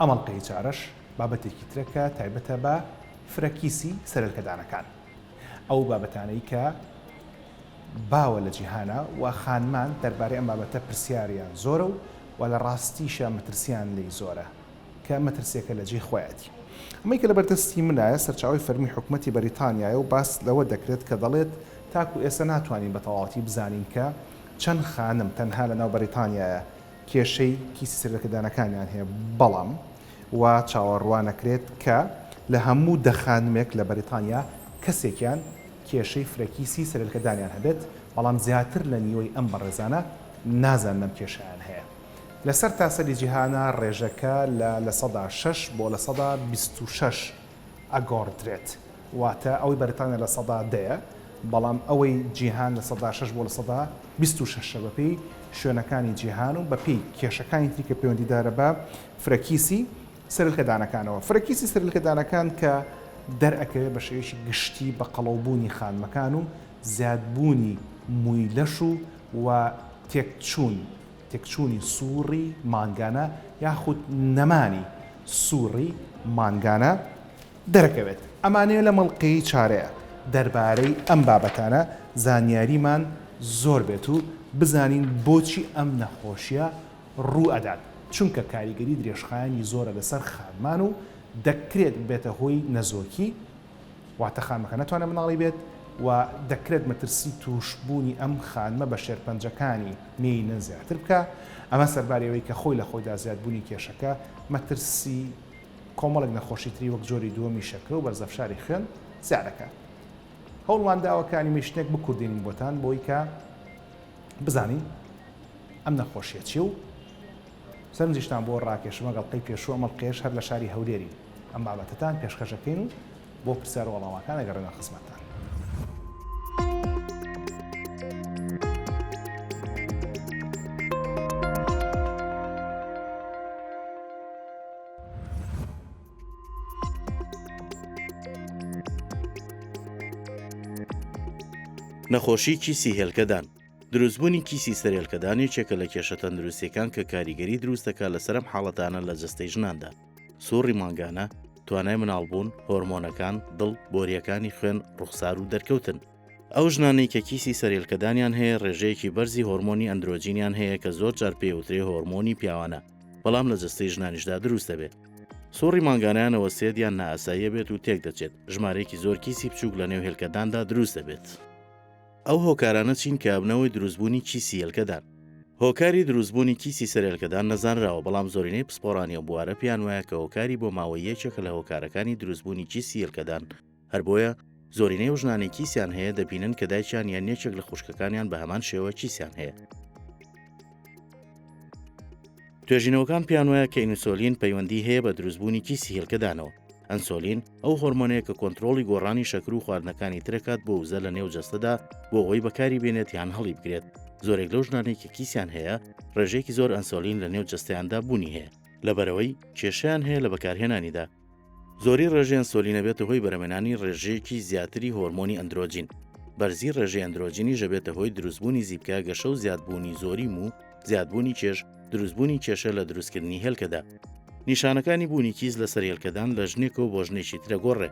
ئەم ئەڵقەی چارەش بابەتێکی ترە کە تایبەتە بە فرە کیسی سەرەلکەدانەکان ئەو بابەتانەی کە باوە لە جیهانە و خانمان دەربارەی ئەم بابەتە پرسیاریان زۆرە و و لە ڕاستیشە مەترسیان لی زۆرە کە مەترسیەکە لە جێی خۆیەتی ئەمەی کە لە بەردەستی منایە سەرچاوی فەرمی حکومەتی بەریتانیایە و باس لەوە دەکرێت کە دەڵێت تاکو ئێستا ناتوانین بە تەواوەتی بزانین کە چەند خانم تەنها لە ناو بەریتانیایە کێشەی کیسی سەرلەکەدانەکانیان هەیە بەڵام وا چاوەڕوانەکرێت کە لە هەموو دە خانمێک لە بەریتانیا کەسێکیان کێشەی فرەکیسی سەرلکەدانیان هەبێت بەڵام زیاتر لە نیوەی ئەم بەڕێزانە نازانن ئەم کێشەیان هەیە لە سەرتاسەری جیهانا ڕێژەکە لە لە سەدا شەش بۆ لە سەدا بیست و شەش ئەگۆڕدرێت، واتە ئەوەی بەریتانیا لە سەدا دەیە، بەڵام ئەوەی جیهان لە سەدا شەش بۆ لە سەدا بیست و شەش ە بەپێی شوێنەکانی جیهان و بەپێی کێشەکانی تری کە پەیوەندیدارە بە فرەکیسی سەرلکەدانەکانەوە. فرەکیسی سەرلکەدانەکان کە دەرئەکەوێت بە شێوەیەکی گشتی بە قەڵەو بوونی خانمەکان و زیاد بوونی مووی لەش و و تێکچوون، تێکچوونی سووڕی مانگانە یاخود نەمانی سووڕی مانگانە دەرەکەوێت. ئەمانەیە لەم ئەڵقەی چارەیە دەربارەی ئەم بابەتانە زانیاریمان زۆر بێت و بزانین بۆچی ئەم نەخۆشیە ڕوو ئەدات چونکە کاریگەری درێژخایەنی زۆرە لەسەر خانمان و دەکرێت ببێتە هۆی نەزۆکی، واتە خانمەکە نەتوانێت منداڵی بێت و دەکرێت مەترسی تووشبوونی ئەم خانمە بە شێرپەنجەکانی مێینە زیاتر بکا، ئەمە سەرباری ئەوەی کە خۆی لە خۆیدا زیادبوونی کێشەکە مەترسی کۆمەڵێک نەخۆشی تری وەک جۆری دووەمی شەکرە و بەرزەفشاری خوێن زیاد دەکات. هەوڵمان داوە کە ئەنیمەیشنێک بکوردێنین بۆتان بۆی کە بزانین ئەم نەخۆشیە چیە و سەرنجیشتان بۆ ڕاکێشم ئەگەڵقەی پێشوو ئەم ئەڵقەیەش هەر لە شاری هەولێرین. ئەم بابەتەتان پێشکەش دەکەین و بۆ پرسیار و وەڵامەکان ئەگەڕێنە خزمەتتان. نەخۆشی کیسی هێلکەدان دروستبوونی کیسی سەرێلکەدان یەکێکە لە کێشە تەندروستیەکان کە کاریگەری دروستەکە لە سەرم حاڵەتانە لە جەستەی ژناندا سوڕی مانگانە، توانای مناڵبوون، هۆرمۆنەکان، دڵ، بۆرییەکانی خوێن، ڕوخسار و دەرکەوتن. ئەو ژنانەی کە کیسی سەرهێلکەدانیان هەیە ڕێژەیەکی بەرزی هۆرمۆنی ئەندرۆجینیان هەیە کە زۆر جار پێی ئەوترێ هۆرمۆنی پیاوانە بەڵام لە جەستەی ژنانیشدا دروست دەبێت. سوڕی مانگانەیان ئەوەستێت یان نائاساییە بێت و تێکدەچێت، ژمارەیەکی زۆر کیسی بچووک لەنێو هێلکەداندا دروست دەبێت. ئەو هۆکارانە چین کە ئەبنەهۆی دروستبوونی کیسی هێلکەدان؟ هۆکاری دروستبوونی کیسی سەر هێلکەدان نەزانراوە، بەڵام زۆرینەی پسپۆڕانی ئەو بوارە پێیان وایە کە هۆکاری بۆ ماوەی یەکێکە لە هۆکارەکانی دروستبوونی کیسی هێلکەدان، هەر بۆیە زۆرینەی ئەو ژنانەی کیسیان هەیە دەبینن کە دایکیان یان یەکێک لە خوشکەکانیان بە هەمان شێوە کیسیان هەیە. توێژینەوەکان پێیان وایە کە ئینسۆلین پەیوەندی هەیە بە دروستبوونی کیسی هێلکەدانەوە، ئەنسۆلین، ئەو هۆرمۆنەیە کە کۆنترۆڵی گۆڕانی شەکر و خواردنەکانی ترەکات بۆ وزە لە نێو جەستەدا بۆ ئەوەی بەکاری بێنێت یان هەڵی بگرێت زۆرێک لەو ژنانەی کە کیسیان هەیە ڕێژەیەکی زۆر ئەنسۆلین لە نێو جەستەیاندا بوونی هەیە لەبەرەوەی کێشیان هەیە لە بەکارهێنانیدا زۆری ڕێژەی ئەنسۆلینە بێتە هۆی بەرەمێنانی ڕێژەیەکی زیاتری هۆرمۆنی ئەندرۆجین بەرزی ڕێژەی ئەندرۆجینیش ئەبێتە هۆی دروستبوونی زیپکە گەشە و زیادبوونی زۆری موو زیادبوونی کێش دروستبوونی کێشە لە دروستکردنی هێلکەدا نیشانەکانی بوونی کیس لەسەر هێلکەدان لە ژنێکە و بۆ ژنێکی ترە گۆڕێ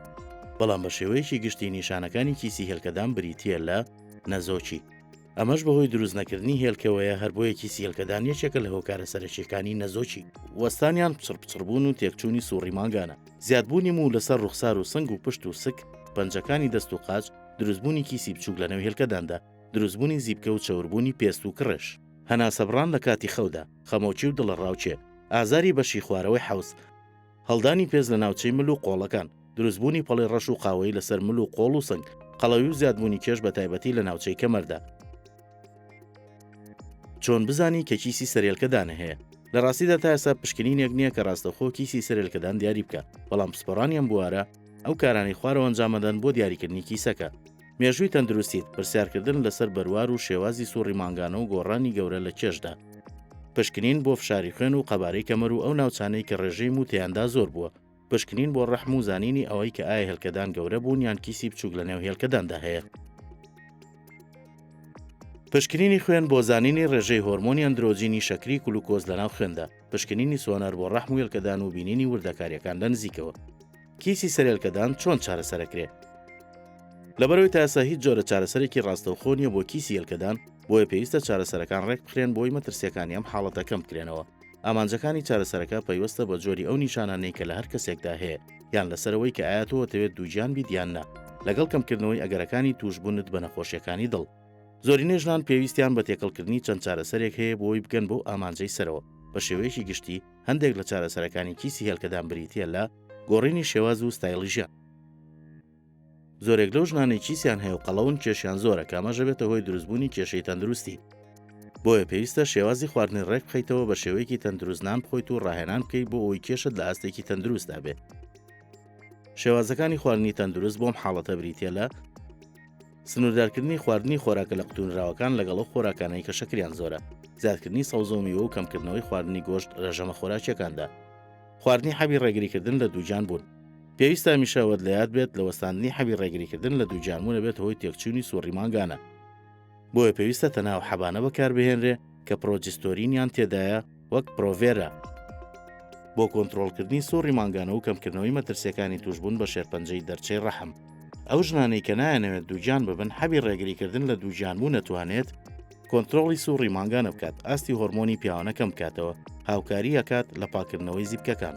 بەڵام بە شێوەیەکی گشتی نیشانەکانی کیسی هێلکەدان بریتە لە نەزۆکی ئەمەش بەهۆی دروست نەکردنی هێلکەوەیە هەر بۆیەکی سیلکەدان یەکێکە لە هۆکارە سەرەکیەکانی نەزۆکی وەستانیان پچڕ پچڕبوون و تێکچوونی سوڕی مانگانە زیادبوونی موو لەسەر ڕوخسار و سنگ و پشت و سک پەنجەکانی دەست و قاچ دروستبوونی کیسی بچووک لە نەوهێلکەداندا دروستبوونی زیپکە و چەوربوونی پێست و کڕێش. هەناسەبڕان لە کاتی خەودا. خەمۆکی و دڵەڕاوکێ. ئازاری بەشی خوارەوەی حەوز. هەڵدانی پێست لە ناوچەی مل و قۆڵەکان. دروستبوونی پەڵەی ڕەش و قاوەیی لەسەر مل و قۆڵ و سنگ. قەڵەوی و زیادبوونی کێش بە تایبەتی لە ناوچەی کەمەردا. چۆن بزانی کە کیسی سەرێلکەدانە هەیە؟ لە ڕاستیدا تا ئێستا پشکنینێک نییە کە ڕاستەخۆ کیسی سەرێلکەدان دیاری بکە، بەڵام پسپۆڕانی ئەم بوارە ئەو کارانەی خوارەوە ئەنجامەدەن بۆ دیاریکردنی کیسەکە. مێژووی تەندروستیت، پرسیارکردن لەسەر بەروار و شێوازی سوڕی مانگانە و گۆڕانی گەورە لە کێشدا. پشکنین بۆ فشاری خوێن و قەبارەی کەمەر و ئەو ناوچانەی کە ڕێژەی موو تێیاندا زۆر بووە، پشکنین بۆ ڕەحم و زانینی ئەوەی کە ئایا هێلکەدان گەورە بوون یان کیسی بچووک لەنێو هێلکەداندا هەیە. پشکنینی خوێن بۆ زانینی ڕێژەی هۆرمۆنی ئەندرۆجینی شەکری کلوکۆز لەناو خوێندا، پشکنینی سۆنەر بۆ ڕەحم و هێلکەدان و بینینی وردەکارییەکان لە نزیکەوە. کیسی سەرێلکەدان چۆن چارەسەرەکرێ؟ لەبەرەوەی تاسە هیچ جۆرە چارەسەرێکی ڕاستەوخۆ نییە بۆ کیسی یەلکەدان، بۆیە پێویستە چارەسەرەکان ڕێکبخرێن بۆی مەترسیەکانی ئەم حاڵەتە کەم بکرێنەوە. ئامانجەکانی چارەسەرەکە پەیوەستە بە جۆری ئەو نیشانانەی کە لە هەر کەسێکدا هەیە، یان لەسەر ئەوەی کە ئایا تۆ ئەتەوێت دووگیان بیت یان نا، لەگەڵ کەمکردنەوەی ئەگەرەکانی تووشبوونت بە نەخۆشیەکانی دڵ. زۆرینەی ژنان پێویستیان بە تێکەڵکردنی چەند چارەسەرێک هەیە بۆی بگەن بەو ئامانجەی سەرەوە، بە شێوەیەکی گشتی، هەندێک لە چارەسەرەکانی کیسی هێلکەدان بریتییە لە گۆڕینی شێواز و ستایلی ژیان. زۆرێک لەو ژنانەی کیسیان هەیە و قەڵەون کێشیان زۆرە کامەژە بێتە هۆی دروستبوونی کێشەی تەندروستی. بۆیە پێویستە شێوازی خواردنی ڕێک بخیتەوە بە شێوەیەکی تەندروست نان بخۆیت و ڕاهێنان بکەیت بۆ ئەوی کێشت لە ئاستێکی تەندروستدا بێت. شێوازەکانی خواردنی تەندروست بۆم حاڵەتە بریتە لە سنووردارکردنی خواردنی خۆراکە لە قوتونراوەکان لەگەڵ ئەو خۆراکانەی کە شەکریان زۆرە زیادکردنی سەوزە و میوە و کەمکردنەوەی خواردنی گۆشت ڕێژەمە خۆراکیەکاندا خواردنی حەبی ڕێگریکردن لە دووجان بوون پێویستە میشەوەت لە یاد بێت لە وەستاندنی حەبی ڕێگریکردن لە دووجانمونە بێت هۆی تێکچوونی سوڕی مانگانە بۆیە پێویستە تەناو حەبانە بەکاربهێنرێ کە پرۆجستۆرینیان تێدایە وەک پرۆڤێرا، بۆ کۆنترۆڵکردنی سوڕی مانگانە و کەمکردنەوەی مەترسیەکانی توشبوون بە شێرپەنجەی دەرچەی ڕەحم. ئەو ژنانەی کە نایەنەوێت دووگیان ببن حەبی ڕێگریکردن لە دووگیانبوو نەتوانێت کۆنترۆڵی سوڕی مانگانە بکات ئاستی هۆرمۆنی پیاوانە کەم بکاتەوە هاوکاری ئەکات لە پاکردنەوەی زیپکەکان.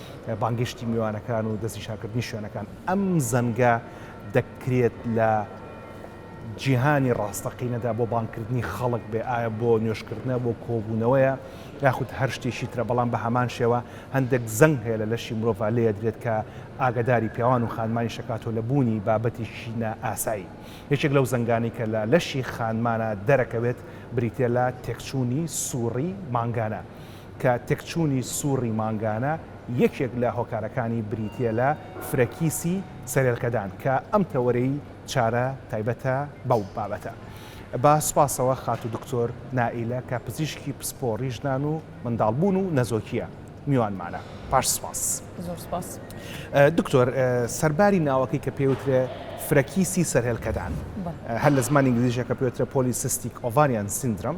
بانگێشتی میوانەکان و دەستنیشانکردنی شوێنەکان ئەم زەنگە دەکرێت لە جیهانی ڕاستەقینەدا بۆ بانکردنی خەڵک بێ ئایا بۆ نوێشکردنە بۆ کۆبوونەوەیە یاخود هەر شتێکی ترە بەڵام بە هەمان شێوە هەندێک زەنگ هەیە لە لەشی مرۆڤ لێ درێت کە ئاگداری پیاوان و خانمانی شکاتۆ لە بوونی بابەتێکی نائاسایی یەکێک لەو زەنگانی کە لە لەشی خانمانە دەرەکەوێت بریتە لە تێکچوونی سوڕی مانگانە کە تێکچوونی سوڕی مانگانە یەکێک لە هۆکارەکانی بریتییە لە فرە کیسی سەرێلکەدان کە ئەم تەوەرەی چارە تایبەتە بەو بابەتە بە سوپاسەوە خاتوو دکتۆر نائیلە کە پزیشکی پسپۆڕی ژنان و منداڵبوون و نەزۆکییە میوانمانە پاش سوپاس زۆر سوپاس دکتۆر سەرباری ناوەکەی کە پێوترێ فرە کیسی سەرێلکەدان هەر لە زمانی ئینگلیزیشە کە پێوترە پۆلیسیستیک ئۆڤاریان سیندرۆم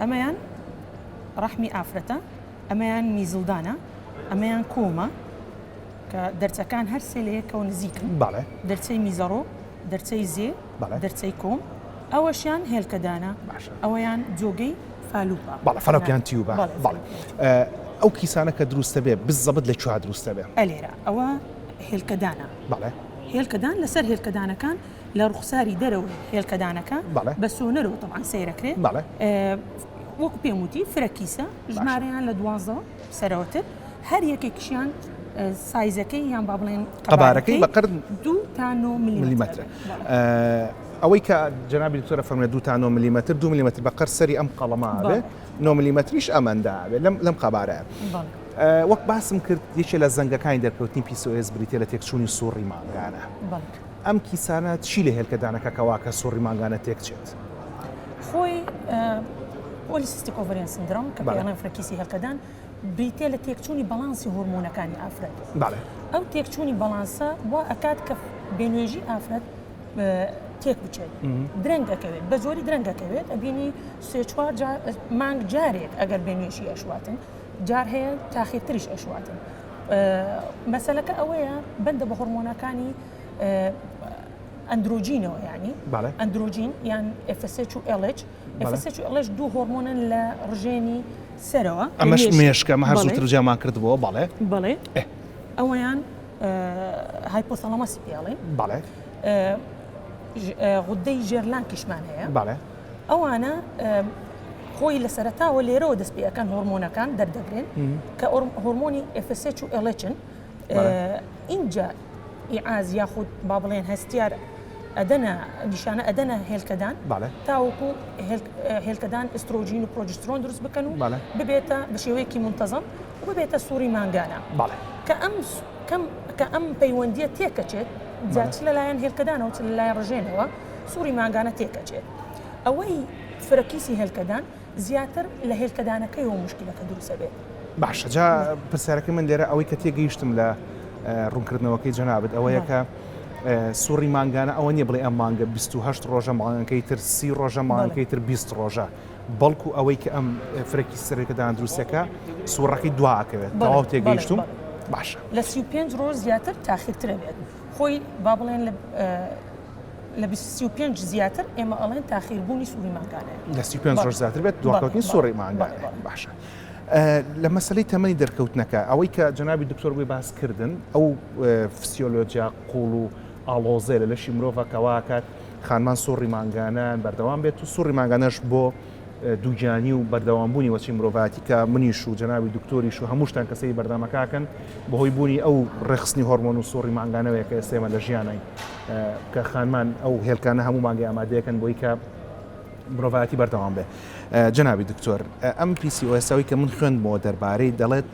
ئەمەیان ڕەحمی ئافرەتە، ئەمەیان میزڵدانە، ئەمەیان کۆمە کە دەرچەکان هەر سێ لە یەکەوە نزیکن دەرچەی میزەڕۆ، دەرچەی زێ، دەرچەی کۆم، ئەوەشیان هێلکەدانە، ئەوەیان جۆگەی فالوپە بەڵە فەرەپیان تیوبە بەڵێ ئەو کیسانە کە دروستە بێ بزەبت لە چوار دروستە بێ ئەلێرە ئەوە هێلکەدانە بەڵێ هێلکەدان لەسەر هێلکەدانەکان لە ڕوخساری دەرەوەی هێلکەدانەکە بەڵێ بە سۆنەرەوە تەبعەن سەیرەکرێت بەڵێ وەکو پێم وتی فرە کیسە باشە ژمارەیان لە دوازدە سەرەوەتر هەر یەکێکیشیان سایزەکەی یان با بڵێن قەبارەکەی بە قەبارەکەی قرد دوو تا نۆ ملیمەترە ملیمەترە بەڵێ ئەوەی کە جەنابی دکتۆرە فەرموویە دوو تا نۆ ملیمەتر دوو ملیمەتر بە قەر سەری ئەم قەڵەمە ئەبێ بەڵێ نۆ ملیمەتریش ئەمەندە ئەبێ لەم لەم قەبارەیە بەڵێ وەک باسم کرد یەکێ لە زەنگەکانی دەرکەوتنی پی سۆ ئێس بریتییە لە تێکچوونی سوڕی مانگانە بەڵێ ئەم کیسانە چی لە هێلکە دانە کە کەوا کە سوڕی مانگانە تێک چێت؟ خۆی پۆلیسیستیک ئۆڤەریان سندرۆم کە پێڵێن فرەکیسی هێلکەدان بریتە لە تێکچوونی بەڵانسی هۆرمۆنەکانی ئافرەت ئەو تێکچوونی بەڵانسە وا ئەکات کە بێنوێژی ئافرەت تێک بچێت درەنگ دەکەوێت بە زۆری درەنگ دەکەوێت ئەبینی سێ چوار مانگ جارێک ئەگەر بێنوێشی ئەشواتن جار هەیە تاخیرتریش ئەشواتن مەسەلەکە ئەوەیە بەندە بە هۆرمۆنەکانی ئەندروجینەوە ینی ئەندروجین یان FSH و LH FSH و LH دوو هۆرمۆنن لە ڕژێنی سەرەوە ئەمەش مێشکە مە هەر زووتر جیامان کردبووە بەڵێ بەڵێ ئەوەیان هایپۆسەڵەمەسی پێڵێن بەڵێ غودەی ژێرلانکیشمان هەیە بەڵێ ئەوانە خۆی لە سەرتاوە لێرەوە دەست پێەکەن هۆرمۆنەکان دەردەبرێن کە هۆرمۆنی FSH و ئەلچن اینجا ئیعاز یاخود با بڵێن هەستیار ئەدەنا نیشانە ئەدەنا هێلکەدان تاوەکو هێلکەدان ئسترۆژین و پرۆجسترۆن دروست بکەن و ببێتە بە شێوەیەکی منتەزم و ببێتە سووری مانگانە کە ئەم کە ئەم پەیوەندیە تێکەچێت جاچ لەلایەن هێلکەدانەوە چ لەلایەن ڕژێنەوە سوڕی مانگانە تێکئەچێت ئەوەی فرەکیسی هێلکەدان زیاتر لە هێلکەدانەکەیەوە موشکیلەکە دروست ئەبێت. باشە جا پرسیارەکەی من لێرە ئەوەی کە تێگەیشتم لە ڕوونکردنەوەکەی جەنابت ئەوەیە کە سوڕی مانگانە ئەوە نیە بڵێ ئەم مانگە 28 ڕۆژە مانگەکەی تر سی ڕۆژە مانگەکەی تر 20 ڕۆژە بەڵکو ئەوەی کە ئەم فرەکی سەرەکەدان دروستەکە سوڕەکەی دواکەوێت تەواو تێگەیشتم باشە لە 35 ڕۆژ زیاتر تاخیرترە بێت. خۆی با بڵێن لە لە سی و پێنج زیاتر ئێمە ئەڵێن تاخیربوونی سووری مانگانێ لە سی پێنج ڕۆژ زیاتر بێت دواکەوتنی سوڕی مانگانێ باشە. لە مەسلەی تەمەنی دەرکەوتنەکە ئەوەی کە جنابی دکتۆر بۆی باس کردن ئەو فسیۆلۆجیا قوڵ و ئاڵۆزێ لە لەشی مرۆڤەکەواکات خانمان سوڕی مانگانان بەردەوام بێت و سوڕی مانگانەش بۆ دووگیانی و بەردەوام بوونی وەچی مرۆڤاتی کە منیش و جەناوی دکتۆریش و هەمووشتان کەسەی بەردەمەکەکەن بەهۆی بوونی ئەو ڕێخستنی هۆرمۆن و سۆڕی مانگانەوەیە کە ئێسێمە لە ژیانین کە خانمان ئەو هێلکانە هەموو مانگی ئامادەیەکەن بۆی کە مرۆڤایەتی بەردەوام بێ جەناوی دکتۆر ئەم پیسی ئۆسەوەی کە من خوێندمەوە دەربارەی دەڵێت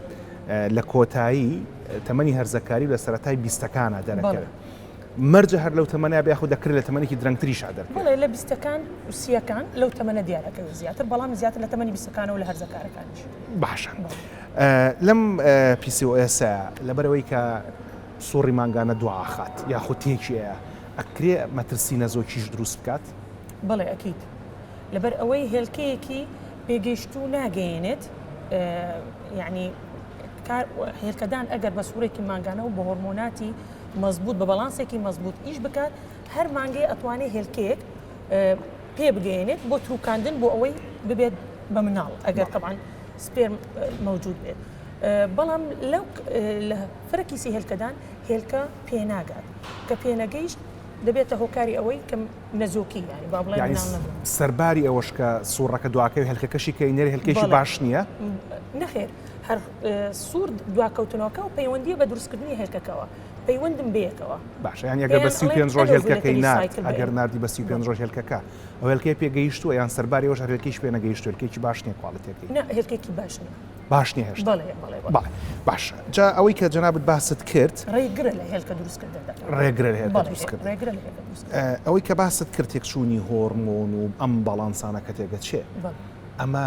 لە کۆتایی تەمەنی هەرزەکاری لە سەتای بیستەکانە دەرەکەێت. مەرجە هەر لەو تەمەنە بێ یاخود دەکرێت لە تەمەنێکی درەنگتریشا دەربکرێت؟ بەڵێ لە بیستەکان و سییەکان لەو تەمەنە دیار ئەکەوێت زیاتر بەڵام زیاتر لە تەمەنی بیستەکانەوە لە هەرزەکارەکانیش. باشە لەم PCOS ە لەبەرئەوەی کە سوڕی مانگانە دوواخات یاخود تێکیەیە ئەکرێ مەترسی نەزۆکیش دروست بکات؟ بەڵێ ئەکید لەبەر ئەوەی هێلکەیەکی پێگەیشتوو ناگەیەنێت یانی هێلکەدان ئەگەر بە سوڕێکی مانگانە و بە هۆرمۆناتی، مەزبوت بە بەڵانسێکی مەزبوت ئیش بکات هەر مانگێ ئەتوانێ هێلکەیەک پێ بگەێنێت بۆ تروکاندن بۆ ئەوەی ببێت بە مناڵ ئەگەر تەبان سپێرم مەوجود بێت بەڵام لەو لە فرەکیسی هێلکەدان هێلکە پێناگات کە پێنەگەیشت دەبێتە هۆکاری ئەوەی کەم نەزۆکی ینی با بڵێ سەرباری ئەوەش کە سوڕەکە دواکەوی هەلکەکەشی کە ئینەر هەلکێکی باش نییە نەخێر هەر سوور دواکەوتنەوەکە و پەیوەندیە بە دروستکردنی هێلکەکەوە پەیوەندم بەیەکەوە باشە یان یەگە بە سی پێنج ڕۆژ هێلکەکەی نارد ئەگەر نردی بە سی پێنج ڕۆژ هێلکەکە ئەو هێلکەی پێگەیشتووە یان سەرباری وەش هەرێکیش پێ نەگەیشت هێلکێکی باش نیە کوالڵتێکی هێلکێکی باش نیە باش نیە هێشت باش جا ئەوەی کە جەنابەت باست کرد ڕێگرە لە هێلکە دروستکردن ڕێگرە ئەوەی کە باست کرد تێکچوونی هۆرمۆن و ئەم باڵانسانەکە تێگەچێ ئەمە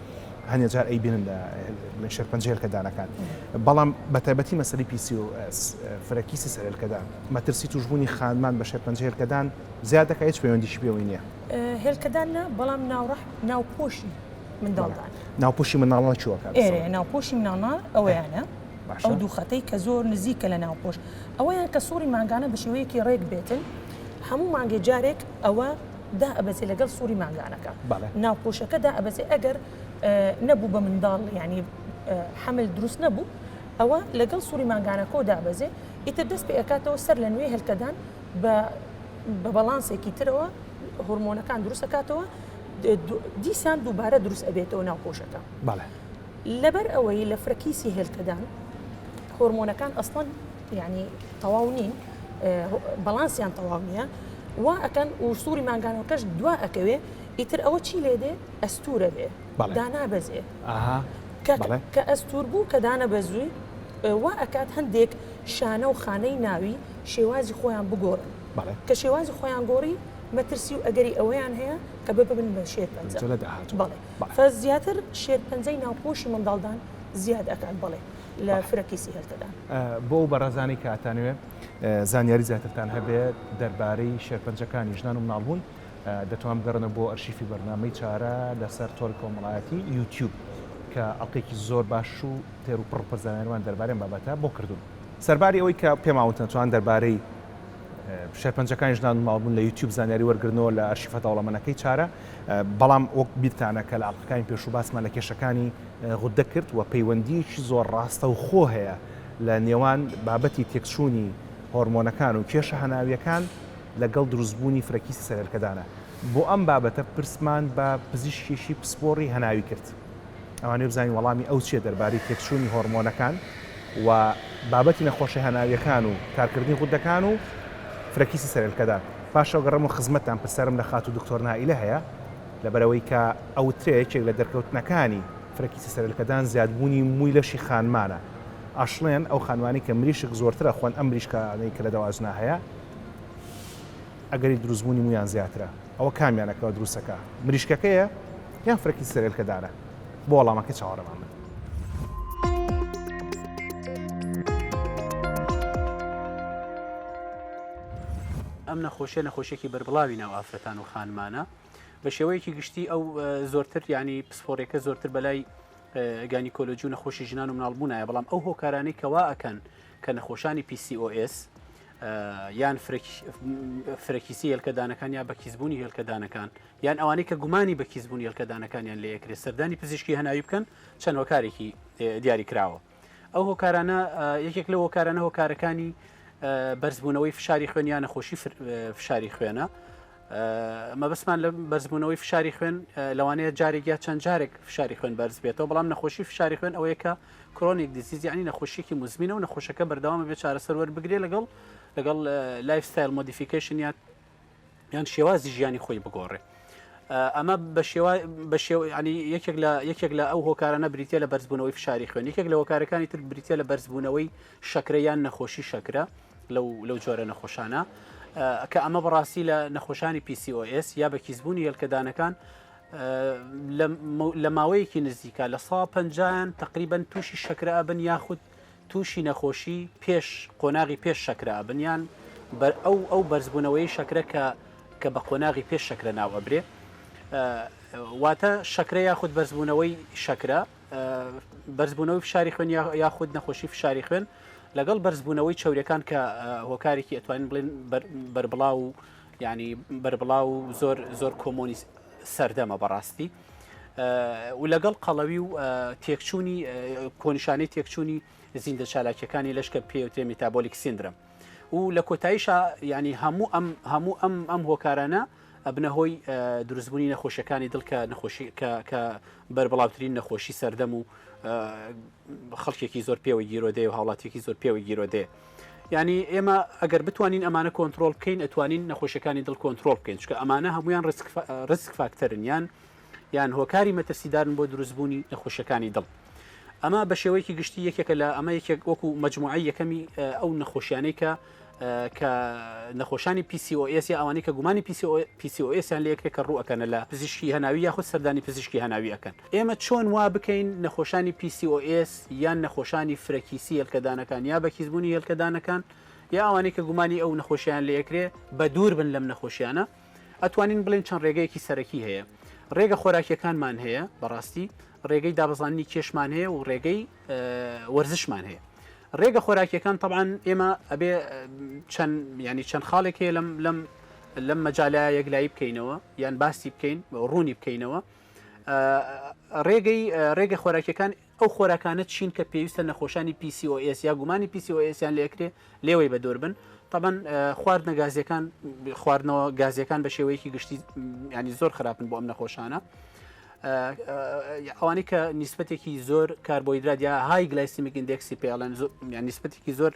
هەندێک جار ئەیبینن لە بڵێ شێرپەنجە هێلکەدانەکان بەڵام بە تایبەتی مەسەری PCOS فرەکیسی سەر هێلکەدان مەترسی توشبوونی خانمان بە شێرپەنجە هێلکەدان زیاد دەکە هیچ پەیوەندیش پێوەی نییە هێلکەدان نا بەڵام ناوڕح ناوپۆشی منداڵدان ناوپۆشی مناڵە چوەکە ناوپۆشی مناڵە ئەویانە ئەو دوو خەتەی کە زۆر نزیکە لە ناوپۆش ئەوەیان کە سوڕی ماگانە بە شێوەیەکی ڕێک بێتن هەموو مانگێ جارێک ئەوە دائەبەزێ لەگەڵ سوڕی مانگانەکە ناو پۆشەکە دائەبەزێ ئەگەر نەبوو بە منداڵ ینی حمل دروست نەبوو ئەوە لەگەڵ سووری مانگانەکۆ دابەزێ ئیتر دەست پێ ئەکاتەوە سەر لە نوێ هەلکەدان بە بە بەڵانسێکی ترەوە هۆرمۆنەکان دروستەکاتەوە دیسان دووبارە دروست ئەبێتەوە ناو پۆشەکە بەڵێ لەبەر ئەوەی لە فرەکیسی هێلکەدان هۆرمۆنەکان ئەسڵەن یعنی تەواو نین بەڵانسیان تەواو نییە وا ئەکەن و سووری مانگانەکەش دوا ئەکەوێ ئیتر ئەوە چی لێ دێ ئەستورە بێ دانا بەزێ کە ئەستور بوو کە دانە بەزووی وا ئەکات هەندێک شانە و خانەی ناوی شێوازی خۆیان بگۆڕن کە شێوازی خۆیان گۆڕی مەترسی و ئەگەری ئەوەیان هەیە کە ببن بە شێر پەنجە لە داهات بەڵێ بەعفە زیاتر شێرپەنجەی ناوپۆشی منداڵدان زیاد ئەکات بەڵێ لە فرە کەیسی هێلکەدان. بۆ ئەو بەڕێزانەی کە ئەتانەوێ زانیاری زیاترتان هەبێت دەربارەی شێرپەنجەکانی ژنان و مناڵبوون دەتوان بگەڕێنەوە بۆ ئەرشیفی بەرنامەی چارە لەسەر تۆڕی کۆمەڵایەتی یوتیوب کە ئەڵقێکی زۆر باش و تێر و پڕ پڕ زانیاریمان دەربارەی ئەم بابەتە بۆ کردوون سەرباری ئەوەی کە پێماوتن توان دەربارەی شێرپەنجەکانی ژنان و ماڵبوون لە یوتیوب زانیاری وەرگرنەوە لە ئەرشیفە دەوڵەمەنەکەی چارە بەڵام وەک بیرتانە کە لە ئەڵلقەکانی پێشوو باسمان لە کێشەکانی غوددە کرد و پەیوەندیەکی زۆر ڕاستە و خۆ هەیە لە نێوان بابەتی تێکچوونی هۆرمۆنەکان و کێشە هەناویەکان لەگەڵ دروستبوونی فرەکیسی سەرێلکەدانە بۆ ئەم بابەتە پرسمان بە پزیشکێکی پسپۆڕی هەناوی کرد. ئەوانەی بزانین وەڵامی ئەو چیە دەربارەی تێکچوونی هۆرمۆنەکان و بابەتی نەخۆشە هەناویەکان و کارکردنی غودەکان و فرەکیسی سەرێلکەدا پاشەو گەڕەمەوە خزمەتتان پرسیارم لە خاتوو دکتۆر نائیلە هەیە لەبەرئەوەی کە ئەوترێ یەکێک لە دەرکەوتنەکانی فرەکیسی سەرێلکەدان زیادبوونی مووی لەشی خانمانە ئەشڵێن ئەو خانمانەی کە مریشک زۆرتر ئەخۆن ئەم مریشکانەی کە لە دەواجنا هەیە ئەگەری دروستبوونی موویان زیاترە ئەوە کامیان ئەکەوە دروستەکا مریشکەکەیە یان فرەکی سەرێلکەدارە بۆ وەڵامەکەی چاوەڕێمان بن. ئەم نەخۆشیە نەخۆشیێکی بەربڵاوی ناو ئافرەتان و خانمانە بە شێوەیەکی گشتی ئەو زۆرتر ینی پسپۆرێکە زۆرتر بەلای گانی کۆلۆژ و نەخۆشی ژنان و مناڵبوونایە بەڵام ئەو هۆکارانی کەوا ئەکەن کە نەخۆشانی PCOS یان فرەکیسی هێلکەدانەکان یا بەکیسبوونی هێلکەدانەکان یان ئەوانەی کە گومانی بەکیسبوونی هێلکەدانەکانیان لە یەکرێ سەردانی پزیشکی هەناوی بکەن چەند هۆکارێکی دیاری کراوە ئەو هۆکارانە یەکێک لە هۆکارانە هۆکارەکانی بەرزبوونەوەی فشاری خوێنیان نەخۆشی فشاری خوێنە مەبەستمان لە بەرزبوونەوەی فشاری خوێن لەوانەیە جارێک یا چەند جارێک فشاری خوێن بەرز بێتەوە بەڵام نەخۆشی فشاری خوێن ئەوەیە کە کرۆنیک دیزیز یعنی نەخۆشیێکی مزمینە و نەخۆشەکە بەردەوامە بێ چارەسەر وەربگرێ لەگەڵ لەگەڵ لایف ستایل مۆدیفیکیشن یا یان شێوازی ژیانی خۆی بگۆڕێ ئەمە بە شێوا بە شێو ینی یەکێک لە یەکێک لە ئەو هۆکارانە بریتە لە بەرزبوونەوەی فشاری خوێن یەکێک لە هۆکارەکانی تر بریتە لە بەرزبوونەوەی شەکرە یان نەخۆشی شەکرە لەو جۆرە نەخۆشانە کە ئەمە بەڕاستی لە نەخۆشانی PCOS یا بە کیسبوونی هێلکەدانەکان لە ماوەیەکی نزیکە لە سا پنجیان تقریبن تووشی شەکرە ئەبن یاخود تووشی نەخۆشی پێش قۆناغی پێش شەکرە ئەبنیان بەر ئەو ئەو بەرزبوونەوەی شەکرە کە کە بە قۆناغی پێش شەکرە ناوەبرێ واتە شەکرە یاخود بەرزبوونەوەی شەکرە بەرزبوونەوەی فشاری خوێن یاخود نەخۆشی فشاری خوێن لەگەڵ بەرزبوونەوەی چاورەکان کە هۆکارێکی ئەتوانین بڵێن بەربڵاو و ینی بەربڵاو و زۆر زۆر کۆمۆنی سەردەمە بەڕاستی و لەگەڵ قەڵەوی و تێکچوونی کۆنیشانەی تێکچوونی زیندە چالاکیەکانی لەشکە پێوتێ میتابۆلیک سندرم و لە کۆتاییشا ینی هەموو ئەم هەموو ئەم ئەم هۆکارانە ئەبنە هۆی دروستبوونی نەخۆشیەکانی دڵکە نەخۆشی کە بەربڵاوترین نەخۆشی سەردەم و خەڵکێکی زۆر پێوە گیرۆدەیە و هاوڵاتێکی زۆر پێوە گیرۆدەیە ینی ئێمە ئەگەر بتوانین ئەمانە کۆنتترۆل بکەین ئەتوانین نەخۆشەکانی دڵ کۆنتترۆل بکەین چکە ئەمانە هەمویان ڕسک فاکتەرن یان یان هۆکاری مەترسیدارن بۆ دروستبوونی نەخۆشەکانی دڵ ئەمە بە شێوەیەکی گشتی یەکێکە لە ئەمە یەکێک وەکو مجموعە یەکەمی ئەو نەخۆشیانەی کە کە نەخۆشانی PCOS یا ئەوانی کە گومانی PCOSیان لەکرێ کە ڕووەکەنە لە پزیشکی هەناوی یاخود سەردانی پزیشکی هەناوی ئەەکەن ئێمە چۆن وا بکەین نەخۆشانی PCOS یان نەخۆشانی فرەکیسی هێلکەدانەکان یا بەکیزبوونی هێلکەدانەکان یا ئەوانی کە گومانی ئەو نەخۆشیان لەکرێ بە دوور بن لەم نەخۆشیانە ئەتوانین بڵین چەند ڕێگەیەکی سەرەکی هەیە ڕێگە خۆراکیەکانمان هەیە بەڕاستی ڕێگەی دابزانانی کێشمان هەیە و ڕێگەی وەرزشمان هەیە ڕێگە خۆراکیەکان طبعاان ئێمە ئەبێ چەند ینی چەند خاڵێک هەیە لەم لەم لەم مەجاالا یەکلایی بکەینەوە یان باسی بکەین ڕوونی بکەینەوە ڕێگەی ڕێگە خۆراکیەکان ئەو خۆراکانە چین کە پێویستە نەخۆشانی پیسی ئۆئس یا گومانی پیسی ئۆئسیان لەکرێ لێوەی بە دور بن تەبەن خواردنە گازیەکان خواردنەوە گازیەکان بە شێوەیەکی گشتی ینی زۆر خراپن بۆ ئەم نەخۆشانە ئەوانی کە نیسبەتێکی زۆر کاربۆیدرات یا های گلایسیمیک ئیندێکسی پێڵێن نیسبەتێکی زۆر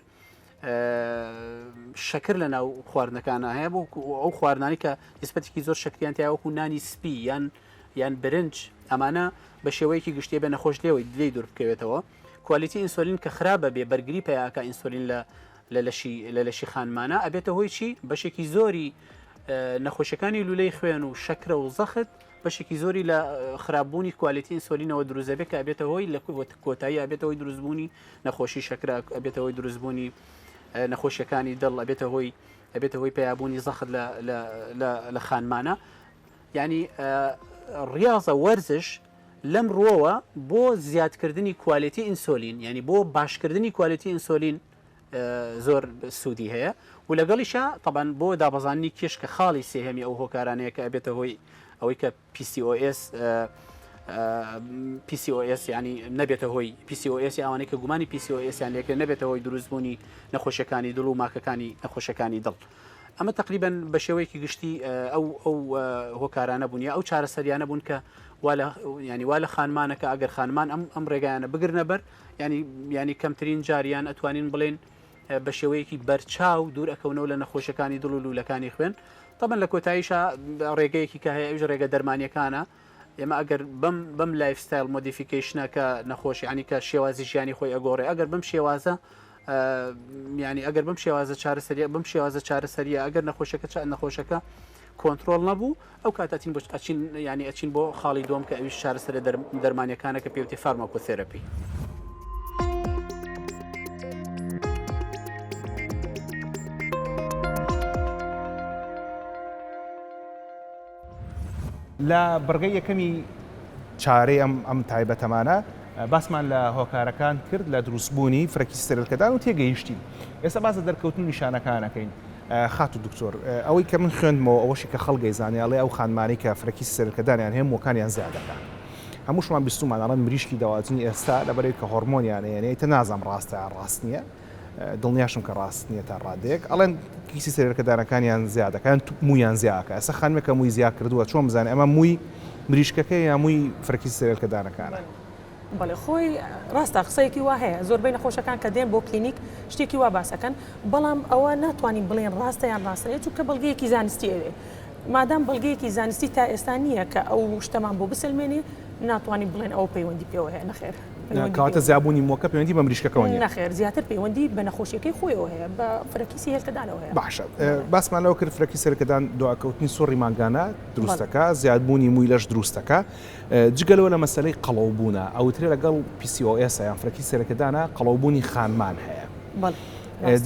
شەکر لە ناو خواردنەکانە هەیە بۆ ئەو خواردانی کە نیسبەتێکی زۆر شکریان تیاوەکو نانی سپی یان یان برنج ئەمانە بە شێوەیەکی گشتێ بە نەخۆش لێەوەی دلی دوور بکەوێتەوە کوالیتی ئینسۆلین کە خراپ ئەبێ بەرگری پیا ئەکا ئینسۆلین لە لە لەشی لە لەشی خانمانە ئەبێتە هۆی چی بەشێکی زۆری نەخۆشەکانی لولەی خوێن و شەکرە و زەخت بەشێکی زۆری لە خراپبوونی کوالیتی ئینسۆلینەوە دروزەبێت کە ئەبێتە هۆی لە کۆتایی ئەبێتەوەی دروستبوونی نەخۆشی شەکرا ئەبێتەوەی دروستبوونی نەخۆشیەکانی دڵ ئەبێتە هۆی ئەبێتە هۆی پیابوونی زەخت لە خانمانە ینی ڕاضە وەرزش لەم ڕووەوە بۆ زیادکردنی کوالێتی ئینسۆلین یعنی بۆ باشکردنی کوالێتی ئینسۆلین زۆر سوودی هەیە و لەگەڵیشە تەبەن بۆ دابەزانانی کێش کە خاڵی سێهێمی ئەو هۆکارانەیە کە ئەبێتە هۆی ئەوەی کە PCOS PCOS ینی نەبێتە هۆی PCOS ئەوانەی کە گومانی PCOSیان لێکرێ نەبێتە هۆی دروستبوونی نەخۆشیەکانی دڵ و ماکەکانی نەخۆشەکانی دڵ. ئەمە تەقریبەن بە شێوەیەکی گشتی ئەو ئەو هۆکارانە بوون یا ئەو چارەسەریانە بوون کە ینی وا لە خانمانەکە ئەگەر خانمان ئەم ئەم ڕێگایانە بگرنەبەر ینی ینی کەمترین جاریان ئەتوانین بڵێن بە شێوەیەکی بەرچاو دوور ئەکەونەوە لە نەخۆشەکانی دڵ و لولەکانی خوێن تەمەن لە کۆتاییشە ڕێگەیەکی کە هەیە ئەوش ڕێگە دەرمانیەکانە ئێمە ئەگەر بەم بەم لایف ستایل مۆدیفیکیشنە کە نەخۆش ینی کە شێوازی ژیانی خۆی ئەگۆڕێ ئەگەر بم شێوازە ینی ئەگەر بم شێوازە چارەسەریە بم شێوازە چارەسەریە ئەگەر نەخۆشەکە چا نەخۆشەکە کۆنتترۆل نەبوو ئەو کاتەتین بچ ئەچین ینی ئەچین بۆ خاڵی دوم کە ئەویش چارەسەر دەرمانەکانە کە پێوتی فەرمەکو تێرەپی. لە بڕگەی یەکەمی چارەی ئەم تایبەتەمانە باسمان لە هۆکارەکان کرد لە دروستبوونی فرەکی سترلکەدان و تێگەیشتین ئێستا باز لە دەرکەوتن و نیشانەکانەکەین خاتو دکتۆر ئەوەی کە من خوێندمەوە ئەوەشی کە خەڵگەی زانیاڵێ ئەو خانمانەی کە فرەکی سرکەدانیان هەیە موەکانیان زیادەکان هەمووشمان بیستومان ئەڵەن مریشکی داواتنی ئێستا لەبەرەی کە هۆرمۆنیان یانەیە تە نازم ڕاستە ڕاست نییە دڵنیاشم کە ڕاست نیە تا ڕادەیەک ئەڵێن کیسی سەرێلکەدانەکانیان زیا دەکا یان موویان زیا ئەکا ئێستا خانمێک کە مووی زیا کردووە چۆن بزانێ ئەمە مووی مریشکەکەیە یا مووی فرەکیسی سەرێلکەدانەکانە؟ بەڵێ خۆی ڕاستە قسەیەکی وا هەیە زۆربەی نەخۆشەکان کە دێن بۆ کلینیک شتێکی وا باس ئەکەن بەڵام ئەوە ناتوانین بڵێین ڕاستە یان ڕاست نیە چونکە بەڵگەیەکی زانستی ئەوێ مادام بەڵگەیەکی زانستی تا ئێستا نییە کە ئەو شتەمان بۆ بسەلمێنێ ناتوانین بڵێین ئەوە پەیوەندی پێوە هەیە نەخێر. کاتە زیابوونی مۆکە پەیوەندی بە مریشکەکەەوە نەخێر زیاتر پەیوەندی بە نەخۆشیەکەی خۆیەوە هەیە بە فرەکیسی هێلکەدانەوە هەیە باشە باسمان لەوە کرد فرەکی سەرکەدان دواکەوتنی سوڕی مانگانە دروستەکە زیادبوونی مووی لەش دروستەکە جگەلەوە لە مەسلەی قەڵەو بوونە ئەوترێ لەگەڵ PCOS یان فرەکی سەرکەدانە قەڵەوبوونی خانمان هەیە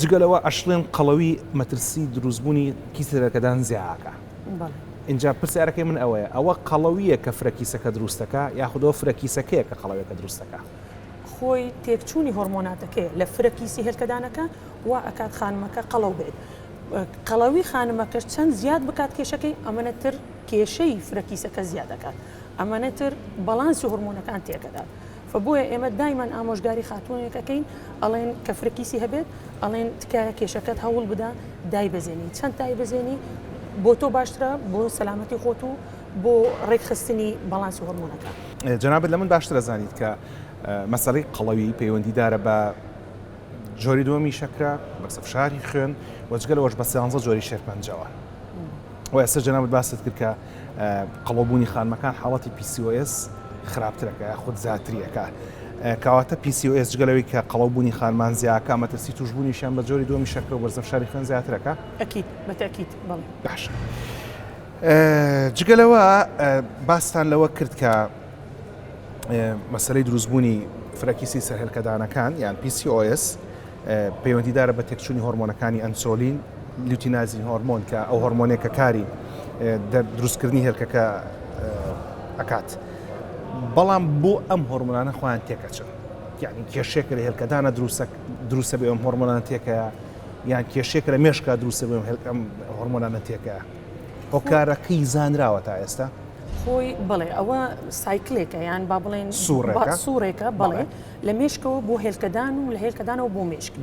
جگەلەوە ئەشڵێن قەڵەوی مەترسی دروستبوونی کیسەرەکەدان زیاکە ئینجا پرسیارەکەی من ئەوەیە ئەوە قەڵەوییە کە فرە کیسەکە دروست دەکا یاخود ئەوە فرە کیسەکەیە کە قەڵەوێکە دروست دەکا؟ خۆی تێکچوونی هۆرمۆناتەکەیە لە فرە کیسی هێلکەدانەکە وا ئەکات خانمەکە قەڵەو بێت قەڵەوی خانمەکەش چەند زیاد بکات کێشەکەی ئەمەنە تر کێشەی فرە کیسەکە زیاد دەکات ئەمەنە تر بەڵانسی هۆرمۆنەکان تێکەدات و بۆیە ئێمە دایمان ئامۆژگاری خاتوونێک ئەکەین ئەڵێن کە فرەکیسی هەبێت ئەڵێن تکایە کێشەکەت هەوڵ بدە دایبەزێنی چەند دایبەزێنی بۆ تۆ باشترە بۆ سەلامەتی خۆت و بۆ ڕێکخستنی بەڵانسی هۆرمۆنەکان. جەنابت لە من باشتر ئەزانیت کە مەسەلەی قەڵەوی پەیوەندیدارە بە جۆری دووەمی شەکرە، بەسە فشاری خوێن و جگە لەوەش بە سیانزە جۆری شێرپەنجەوە. وە ئێستا جەنابت باست کرد کە قەڵەوبوونی خانمەکان حاڵەتی PCOS خراپتر ئەکا یاخود زیاتری ئەکا. کەواتە PCOS جگە لەوەی کە قەڵەوبوونی خانمان زیا ئەکا، مەترسی تووشبوونیشیان بە جۆری دووەمی شەکرە و بەرزە فشاری خوێن زیاتر ئەکا. ئەکید، بە تەئکید بەڵێ. باشە. جگە لەوە باستان لەوە کرد کە، مەسەلەی دروستبوونی فرەکیسی سەرهێلکەدانەکان یان PCOS پەیوەندیدارە بە تێکچوونی هۆرمۆنەکانی ئەنسۆلین لیوتینازین هۆرمۆن کە ئەو هۆرمۆنێک کە کاری دروستکردنی هێلکەکە ئەکات بەڵام بۆ ئەم هۆرمۆنانە خۆیان تێکەچن یعنی کێشێکە لە هێلکەدانە دروستە بێ ئەم هۆرمۆنان تێکە یان کێشێکە لە مێشکا دروستە بێ هێلکەم هۆرمۆنانە تێکە هۆکارەکەی زانراوە تا ئێستا؟ خۆی بڵێ ئەوە سایکلێکە یان با بڵێن سوورێکە بڵێ لە مشکەوە بۆ هێلکەدان و لە هێلکەدانەوە بۆ مشک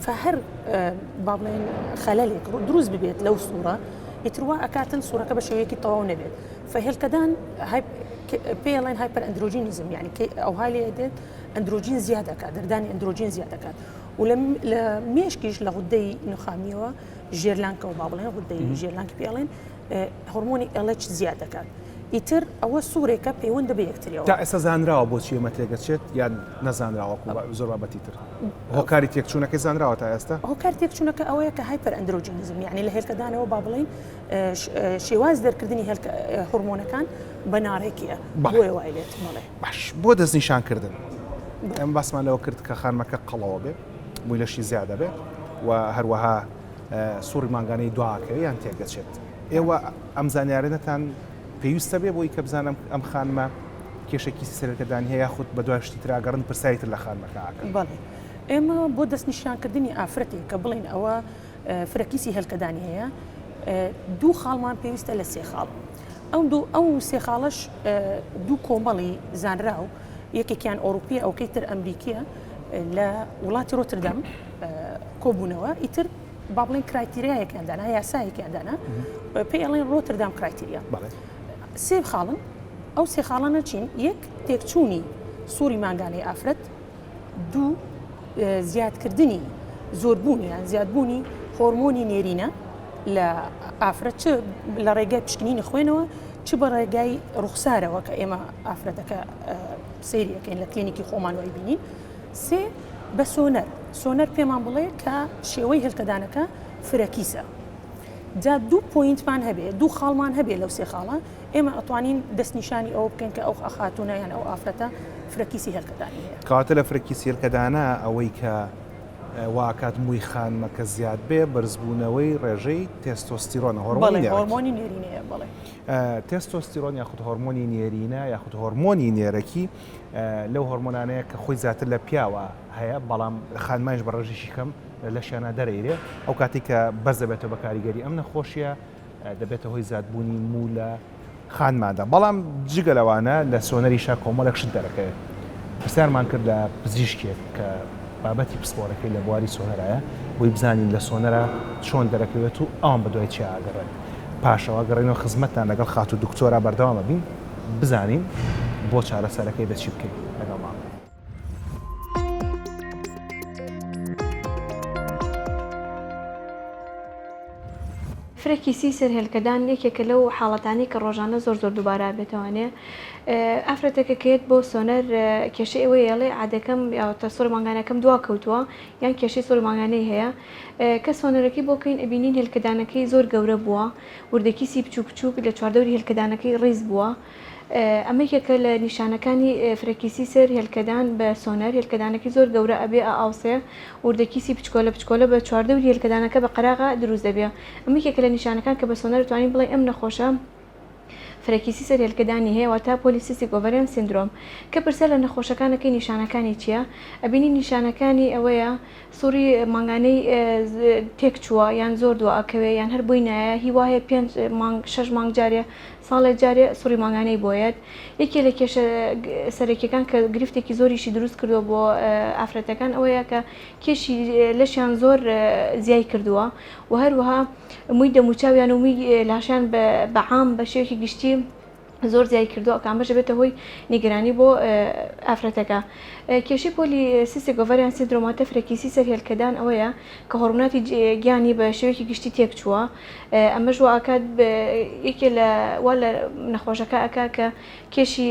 فهر با بڵێن خەلەلێک دروست ببێت لەو سوورە ئیتروا ئەکاتن سوورەکە بە شێوەیەکی تەواو نەبێت فهێلکەدان پێڵێن هایپەر ئەندرۆجینیزم یعنی ئەو هاالێ دێت ئەندرۆجین زیاد دەکات دەردانی ئەندرۆجین زیاد دەکات و لە مێشکیش لە غودەی نخامیەوە ژێرلانکەوە با بڵێن غدەی ژێرلانکی پێڵێن هۆرمۆنی ئەڵەچ زیاد دەکات ئیتر ئەوە سوورێکە پەیوەندە بە یەکتریەوە تا ئێستا زانراوە بۆچی ئەمە تێگەچێت یان نەزانراوە زۆر بابەتی تر هۆکاری تێکچوونەکەی زانراوە تا ئێستا هۆکار تێکچوونەکە ئەوەیە کە هایپەر ئەندرۆجینزم یعنی لە هێلکەدانەوە با بڵین شێواز دەرکردنی هێلکە هورمۆنەکان بە ناڕێکیە بۆێ وای لێت مەڵێ باش بۆ دەستنیشانکردن ئەم باسمان لەوە کرد کە خانمەکە قەڵەوە بێت موی لەشی زیا دەبێت و هەروەها سوڕی مانگانەی دواکەوێ یان تێکدەچێت ئێوە ئەم زانیارەتان پێویستە بێ بۆی کە بزانم ئەم خانمە کێشێکی سەرەکەدانی هەیە یاخود بە دوای شتی تراگەڕن پرسیاری تر لە خانمەکە ئاکەن بەڵێ ئێمە بۆ دەستنیشانکردنی ئافرەتێک کە بڵین ئەوە فرەکیسی هێلکەدانی هەیە دوو خاڵمان پێویستە لە سێ خاڵ ئەو سێ خاڵەش دوو کۆمەڵی زانراو یەکێکیان ئۆروپی ئەوکەی تر ئەمریکیە لە وڵاتی ڕۆتردەم کۆبوونەوە ئیتر با بڵێن کرایتیریایەکیان دانا یاسایەکیان دانا پێی ئەڵێن ڕۆتردام کرایتیریا سێ خاڵن ئەو سێ خاڵانە چین یەک تێکچوونی سووری مانگانەی ئافرەت دوو، زیادکردنی زۆربوون یان زیادبوونی هۆرمۆنی نێرینە لە ئافرەت چ لە ڕێگای پشکنینی خوێنەوە چ بە ڕێگای ڕوخسارەوە کە ئێمە ئافرەتەکە سریەکەین لە کلینیکی خۆمان وای بینین سێ بە سۆنەر سۆنەر پێمان بڵێ کە شێوەی هێلکەدانەکە فرەکیسە جا دوو پوینتمان هەبێ دوو خاڵمان هەبێ لەو سێ خاڵە ئێمە ئەتوانین دەستنیشانی ئەوە بکەین کە ئەو خاتوونە یان ئەو ئافرەتە فرەکیسی هێلکەدانی هەیە. کەواتە لە فرەکیسی هێلکەدانە ئەوەی کە وا ئەکات مووی خانمەکە زیاد بێ بەرزبوونەوەی ڕێژەی تێستۆستیرۆنە، هۆرمۆنی نێرێک. بەڵێ هۆرمۆنی نێرینەیە بەڵێ. تێستۆستیرۆن یاخود هۆرمۆنی نێرینە یاخود هۆرمۆنی نێرەکی لەو هۆرمۆنانەیە کە خۆی زیاتر لە پیاوە هەیە بەڵام خانمانیش بە ڕێژێکی کەم لە لەشیانا دەرەیرێ ئەو کاتەی کە بەرز دەبێتەوە بە کاریگەری ئەم نەخۆشییە دەبێتە هۆی زادبوونی موو لە خانماندا، بەڵام جگە لەوانە لە سۆنەریشا کۆمەڵێک شت دەرەکەوێت. پرسیارمان کرد لە پزیشکێک کە بابەتی پسپۆرەکەی لە بواری سۆنەرایە بۆی بزانین لە سۆنەرا چۆن دەرەکەوێت و ئەوان بە دوای چیا ئەگەڕێن؟ پاشەوا گەڕێینەوە خزمەتتان لەگەڵ خاتوو دکتۆرا بەردەوام ئەبین بزانین بۆ چارەسەرەکەی دە چی بکەین؟ لەگەڵمان بن. فرەکی سی سەر هێلکەدان یەکێکە لەو حاڵەتانەی کە ڕۆژانە زۆر زۆر دووبارە بێتوانێ ئافرەتەکە کێت بۆ سۆنەر کێشە ئەوەی ئێڵێ عادەکەم یاوەتە سوور مانگانەکەم دوا کەوتووە یان کێشەی سوور مانگانەی هەیە کە سۆنەرەکەی بۆکەین ئەبینین هێلکەدانەکەی زۆر گەورە بووە وردەکیسی بچوو بچووک لە چواردەوری هێلکەدانەکەی ڕیز بووە ئەمە یەکێکە لە نیشانەکانی فرەکیسی سەر هێلکەدان بە سۆنەر هێلکەدانەکەی زۆر گەورە ئەبێ ئە ئاوسێ وردە کیسی بچکۆلە بچکۆلە بە چواردەوری هێلکەدانەکە بە قەراغا دروست دەبێ ئەمە یەکێکە لە نیشانەکان کە بە سۆنەر توانین بڵێ ئەم نەخۆشە فرەکیسی سەر هێلکەدانی هەیە واتا پۆلیسیستیک ئۆڤەریان سیندرۆم کە پرسە لە نەخۆشەکانەکەی نیشانەکانی چییە ئەبینی نیشانەکانی ئەوەیە سوڕی مانگانەی تێک چووە یان زۆر دوا ئەکەوێ یان هەر بۆی نایە هی وایە پێنج مانگ شەش مانگ جارێ ساڵێ جارێ سوڕی مانگانەی بۆیەت یەکێ لە کێشە سەرەکیەکان کە گرفتێکی زۆریشی دروست کردووە بۆ ئافرەتەکان ئەوەیە کە کێشی لەشیان زۆر زیای کردووە و هەروەها مووی دەموچاویان و مووی لاشیان بە عام بە شێوەیەکی گشتی زۆر زیای کردووە کە ئەمەش بێتە هۆی نیگەرانی بۆ ئافرەتەکە کێشی پۆلی سیسی گۆڤەریان سندرۆماتە فرەکیسی سەر هێلکەدان ئەوەیە کە هۆرموناتی گیانی بە شێوەیەکی گشتی تێک چووە ئەمەش وە ئاکات یەکێ لە وا لە نەخۆشەکە ئەکا کە کێشی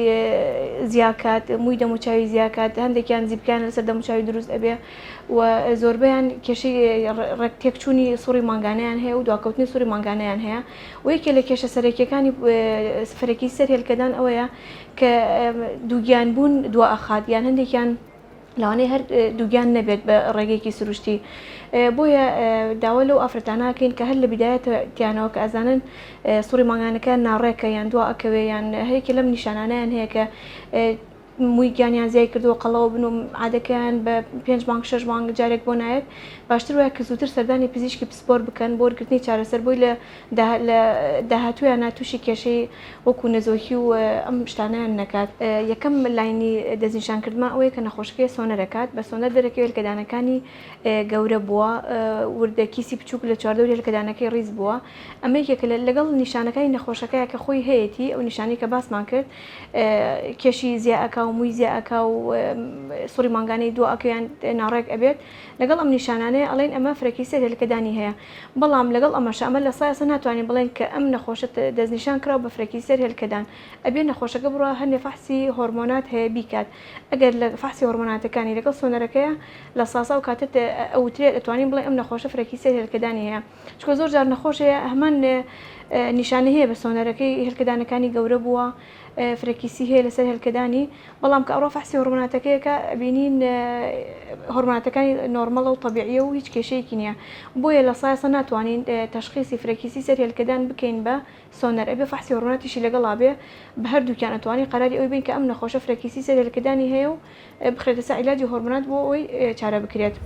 زیاکات مووی دەموچوی زیاکات هەندێکیان زیبکان لەسەر دەموچوی دروست ئەبێ و زۆربیان کێشی ڕێک تێکچوونی سوڕی مانگانیان هەیە و دواکەوتنی سوری مانگانیان هەیە و یەکێ لە کێشە سەرەکیەکانی سفرەکی سەر هێلکەدان ئەوەیە کە دووگیان بوون دوا ئەخات یان هەندێکیان لەوانەیە هەر دووگیان نەبێت بە ڕێگەیەکی سروشتی بۆیە داوا لەو ئافرەتاناکەین کە هەر لە بدایەتیانەوە کە ئەزانن سوڕی مانگانەکە ناڕێکە یان دوا ئەکەوێ یان هەیەکی لەم نیشانانیان هەیە کە موی گیانیان زیای کردووە قەڵەوە بن و عادەکەیان بە پێنج مانگ شەش مانگ جارێک بۆ نایەت باشتر وایە کە زووتر سەردانی پزیشکی پسپۆر بکەن بۆ وەرگرتنی چارەسەر بۆی لە داهاتوویانە تووشی کێشەی وەکو نەزۆکی و ئەم شتانەیان نەکات. یەکەم لاینی دەستنیشانکردمان ئەوەیە کە نەخۆشەکەی سۆنەر ئەکات بە سۆنەر دەرەکەوێت هێلکەدانەکانی گەورە بووە وردە کیسی بچووک لە چواردەوری هێلکەدانەکەی ڕیز بووە ئەمە یەکێکە لەگەڵ نیشانەکانی نەخۆشەکەیە کە خۆی هەیەتی ئەو نیشانەی کە باسمان کرد کێشی زیا ئەکا و موی زیا ئەکا و سوڕی مانگانەی دو ئەکا یان ناڕێک ئەبێت لەگەڵ ئەم نیشانانەیە ئەڵێن ئەمە فرەکی سێ هێلکەدانی هەیە بەڵام لەگەڵ ئەمەشە ئەمە لە سایەسە ناتوانین بڵێن کە ئەم نەخۆشە دەستنیشان کراو بە فرەکی سێر هێلکەدان ئەبێ نەخۆشەکە بڕوا هەنێ فەحسی هۆرمۆنات هەیە بیکات ئەگەر لە فەحسی هۆرمۆناتەکانی لەگەڵ سۆنەرەکەیە لە ساساو کاتت ئەوترێت ئەتوانین بڵێ ئەم نەخۆشە فرەکی سێر هێلکەدانی هەیە چونکە زۆر جار نەخۆش هەیە هەمان نیشانەی هەیە بە سۆنەرەکەی هێلکەدانەکانی گەورە بووە فرەکیسی هەیە لەسەر هێلکەدانی بەڵام کە ئەڕۆ فەحسی هۆرمۆناتەکەیەکە بینین هۆرمۆناتەکانی نۆرمەڵە و طبیعیە و هیچ کێشەیەکی نییە بۆیە لە سایەسە ناتوانین تەشخیصی فرەکیسی سەر هێلکەدان بکەین بە سۆنەر ئەبێ فەحسی هۆڕمۆناتیشی لەگەڵا بێ بە هەردووکیان ئەتوانی قەراری ئەوی بەین کە ئەم نەخۆشە فرەکیسی سێ لەلکەدانی هەیە و بخرێتە سەر عیلاجی هۆڕمۆنات بۆ ئەوەی چارە بکرێت.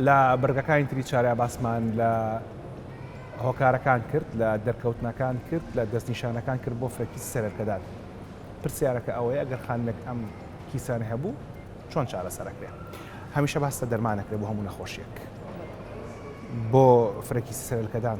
لە بڕگەکانی تری چارە باسمان لە هۆکارەکان کرد، لە دەرکەوتنەکان کرد، لە دەستنیشانەکان کرد بۆ فرەکیسی سەرەرکەدان. پرسیارەکە ئەوەیە ئەگەر خانمێک ئەم کیسانە هەبوو چۆن چارەسەرەکرێ؟ هەمیشە باس لە دەرمانەکرێ بۆ هەموو نەخۆشیەک بۆ فرەکیسی سەرەرکەدان.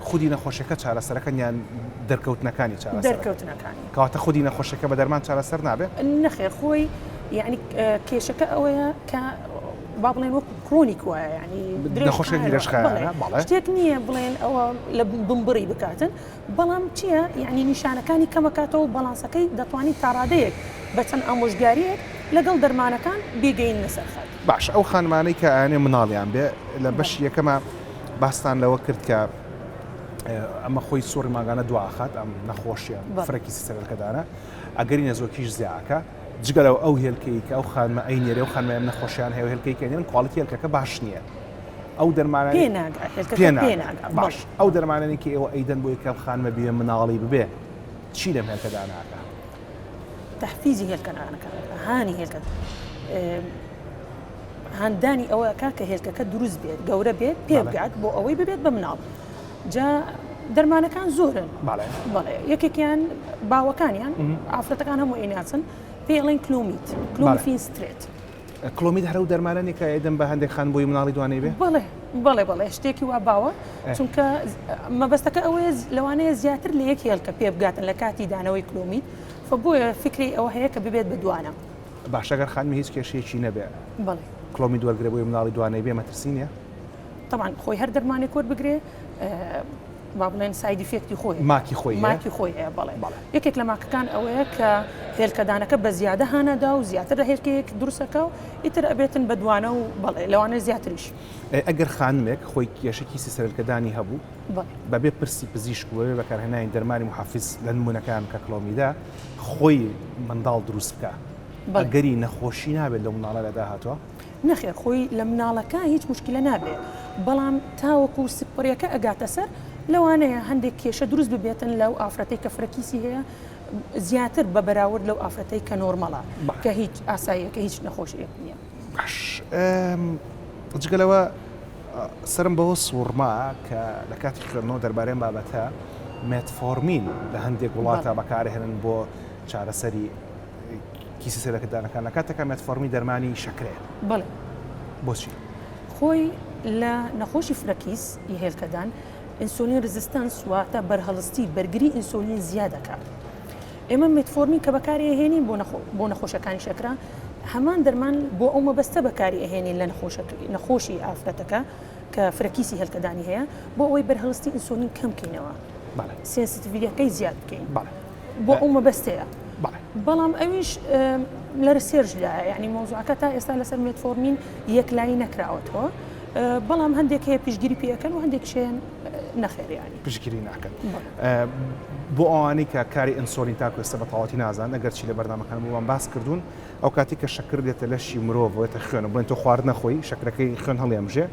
خودی نەخۆشەکە چارەسەرەکەن یان دەرکەوتنەکانی چارەسەرەکەن؟ دەرکەوتنەکانی. کەواتە خودی نەخۆشەکە بە دەرمان چارەسەر نابێ؟ نەخێر خۆی یانی کێشەکە ئەوەیە کە با بڵێن وەکو کرۆنیک وایە یانی نەخۆشەکە درێژخایەنە بەڵێ شتێک نییە بڵێن ئەوە لە بمبڕی بکاتن بەڵام چییە یانی نیشانەکانی کەمەکاتەوە بەڵانسەکەی دەتوانین تاڕادەیەک بە چەند ئامۆژگاریەک لەگەڵ دەرمانەکان بیگەیننە سەر خەت. باشە ئەو خانمانەی کە ئەیانەوێ مناڵیان بێ لە بەشی یەکەما، باستان لەوە کرد کە ئەمە خۆی سوڕی ماگانە دواخات ئەم نەخۆشیە فرەکی سەرەکەدانە ئەگەری نەزۆکیش زیاکە جگە لەو ئەو هێلکەی کە ئەو خانمە ئەی نێرە و خانمیان نەخۆشیان هەیە هێلکەی کەێن کواڵیتی هێلکەکە باش نییە ئەو دەرمانە باش ئەو دەرمانانی کە ئێوە ئەیدەن بۆ یکە خانمە بێ مناڵی ببێ چی لەم هێلکەدا ناکە تحفیزی هێلکەکانەکە هاانی هێلکە هاندانی ئەوە ئەکات کە هێلکەکە دروست بێت گەورە بێت پێ بگات بۆ ئەوەی ببێت بە مناڵ جا دەرمانەکان زۆرن بەڵێ یەکێکیان باوەکانیان ئافرەتەکان هەموو ئیناسن پێڵێن کلومیت کلومفین سترێت کلۆمیت هەرو دەرمانانی کە ئەدەم بە هەندێک خان بۆی مناڵی دوانەی بێ بڵێ بڵێ بڵێ شتێکی وا باوە چونکە مەبەستەکە ئەوەیە لەوانەیە زیاتر لە یەک هێلکە پێ بگاتن لە کاتی دانەوەی کلۆمیت فە بۆیە فکری ئەوە هەیە کە ببێت بە دوانە باشە گەر خانمی هیچ کێشەیەکی نەبێ کلۆمی دوەرگرە بۆی مناڵی دوانەی بێ مەترسی نیە طبعا خۆی هەر دەرمانێک کۆر بگرێ با بڵێن سایدی فێکتی خۆی ماکی خۆی ماکی خۆی هەیە بڵێ یەکێک لە ماکەکان ئەوەیە کە هێلکەدانەکە بە زیادە هانەدا و زیاتر لە هێلکەیەک درسەکە و ئیتر ئەبێتن بە دوانە و بەڵێ لەوانە زیاتریش ئەگەر خانمێک خۆی کێشکی سیسەرکەدانی هەبوو بەبێ پرسی پزیشک بەبێ بەکارهێنانی دەرمانی محافز لە نمونونەکان کە کلۆمیدا خۆی منداڵ دروست بکە بەگەری نەخۆشی نابێت لە مناڵە لە داهاتوە نەخێر خۆی لە مناڵەکە هیچ مشکلە نابێت بەڵام تاوەکو و سپڕیەکە ئەگاتە سەر لەوانەیە هەندێک کێشە دروست ببێتن لەو ئافرەتی کە فرەکیسی هەیە زیاتر بە بەراورد لەو ئافرەتی کە نۆرمەڵە کە هیچ ئاساییە کە هیچ نەخۆشیەک نییە. باش جگە لەوە سەرم بەوە سووڕما کە لە کاتی خوێندنەوە دەربارەی بابەتە مێتفۆرمین لە هەندێک وڵاتە بەکارهێنن بۆ چارەسەری کیسی سەرەکەدانەکان لە کاتەکە مێتفۆرمی دەرمانی شەکرەیە بڵێ بۆچی خۆی لە نەخۆشی فرەکیس ی هێلکەدان ئینسۆلین رزستەنس واتە بەرهەڵستی بەرگری ئینسۆلین زیادەکە ئێمە مێتفۆرمین کە بەکاری ئەهێنین بۆ نەخۆشەکانی شەکرە هەمان دەرمان بۆ ئەو مەبەستە بەکاری ئەهێنین لە نەخۆشی ئافرەتەکە کە فرەکیسی هەلکەدانی هەیە بۆ ئەوەی بەرهەڵستی ئینسۆلین کەم بکەینەوە سێنسیتیڤیەکەی زیاد بکەین بۆ ئەو مەبەستەیە بەڵام ئەویش لە رسێرش لایە ینی مۆزوعەکە تا ئێستا لەسەر مێتفۆرمین یەکلایی نەکراوەتەوە بەڵام هەندێک هەیە پشگیری پێەکەن و هەندێک شێن نەخێر یانی پشگیری ناکەن بۆ ئەوانی کە کاری ئەنسۆلین تاکو ئێستا بە تەواتی نازان ئەگەرچی لە بەردامەکان بۆمان باس کردوون ئەو کاتی کە شەکر دێتە لەشی مرۆڤێتە خوێنە بڵێن تۆ خوارد نەخۆی شەکرەکەی خوێن هەڵێمژێ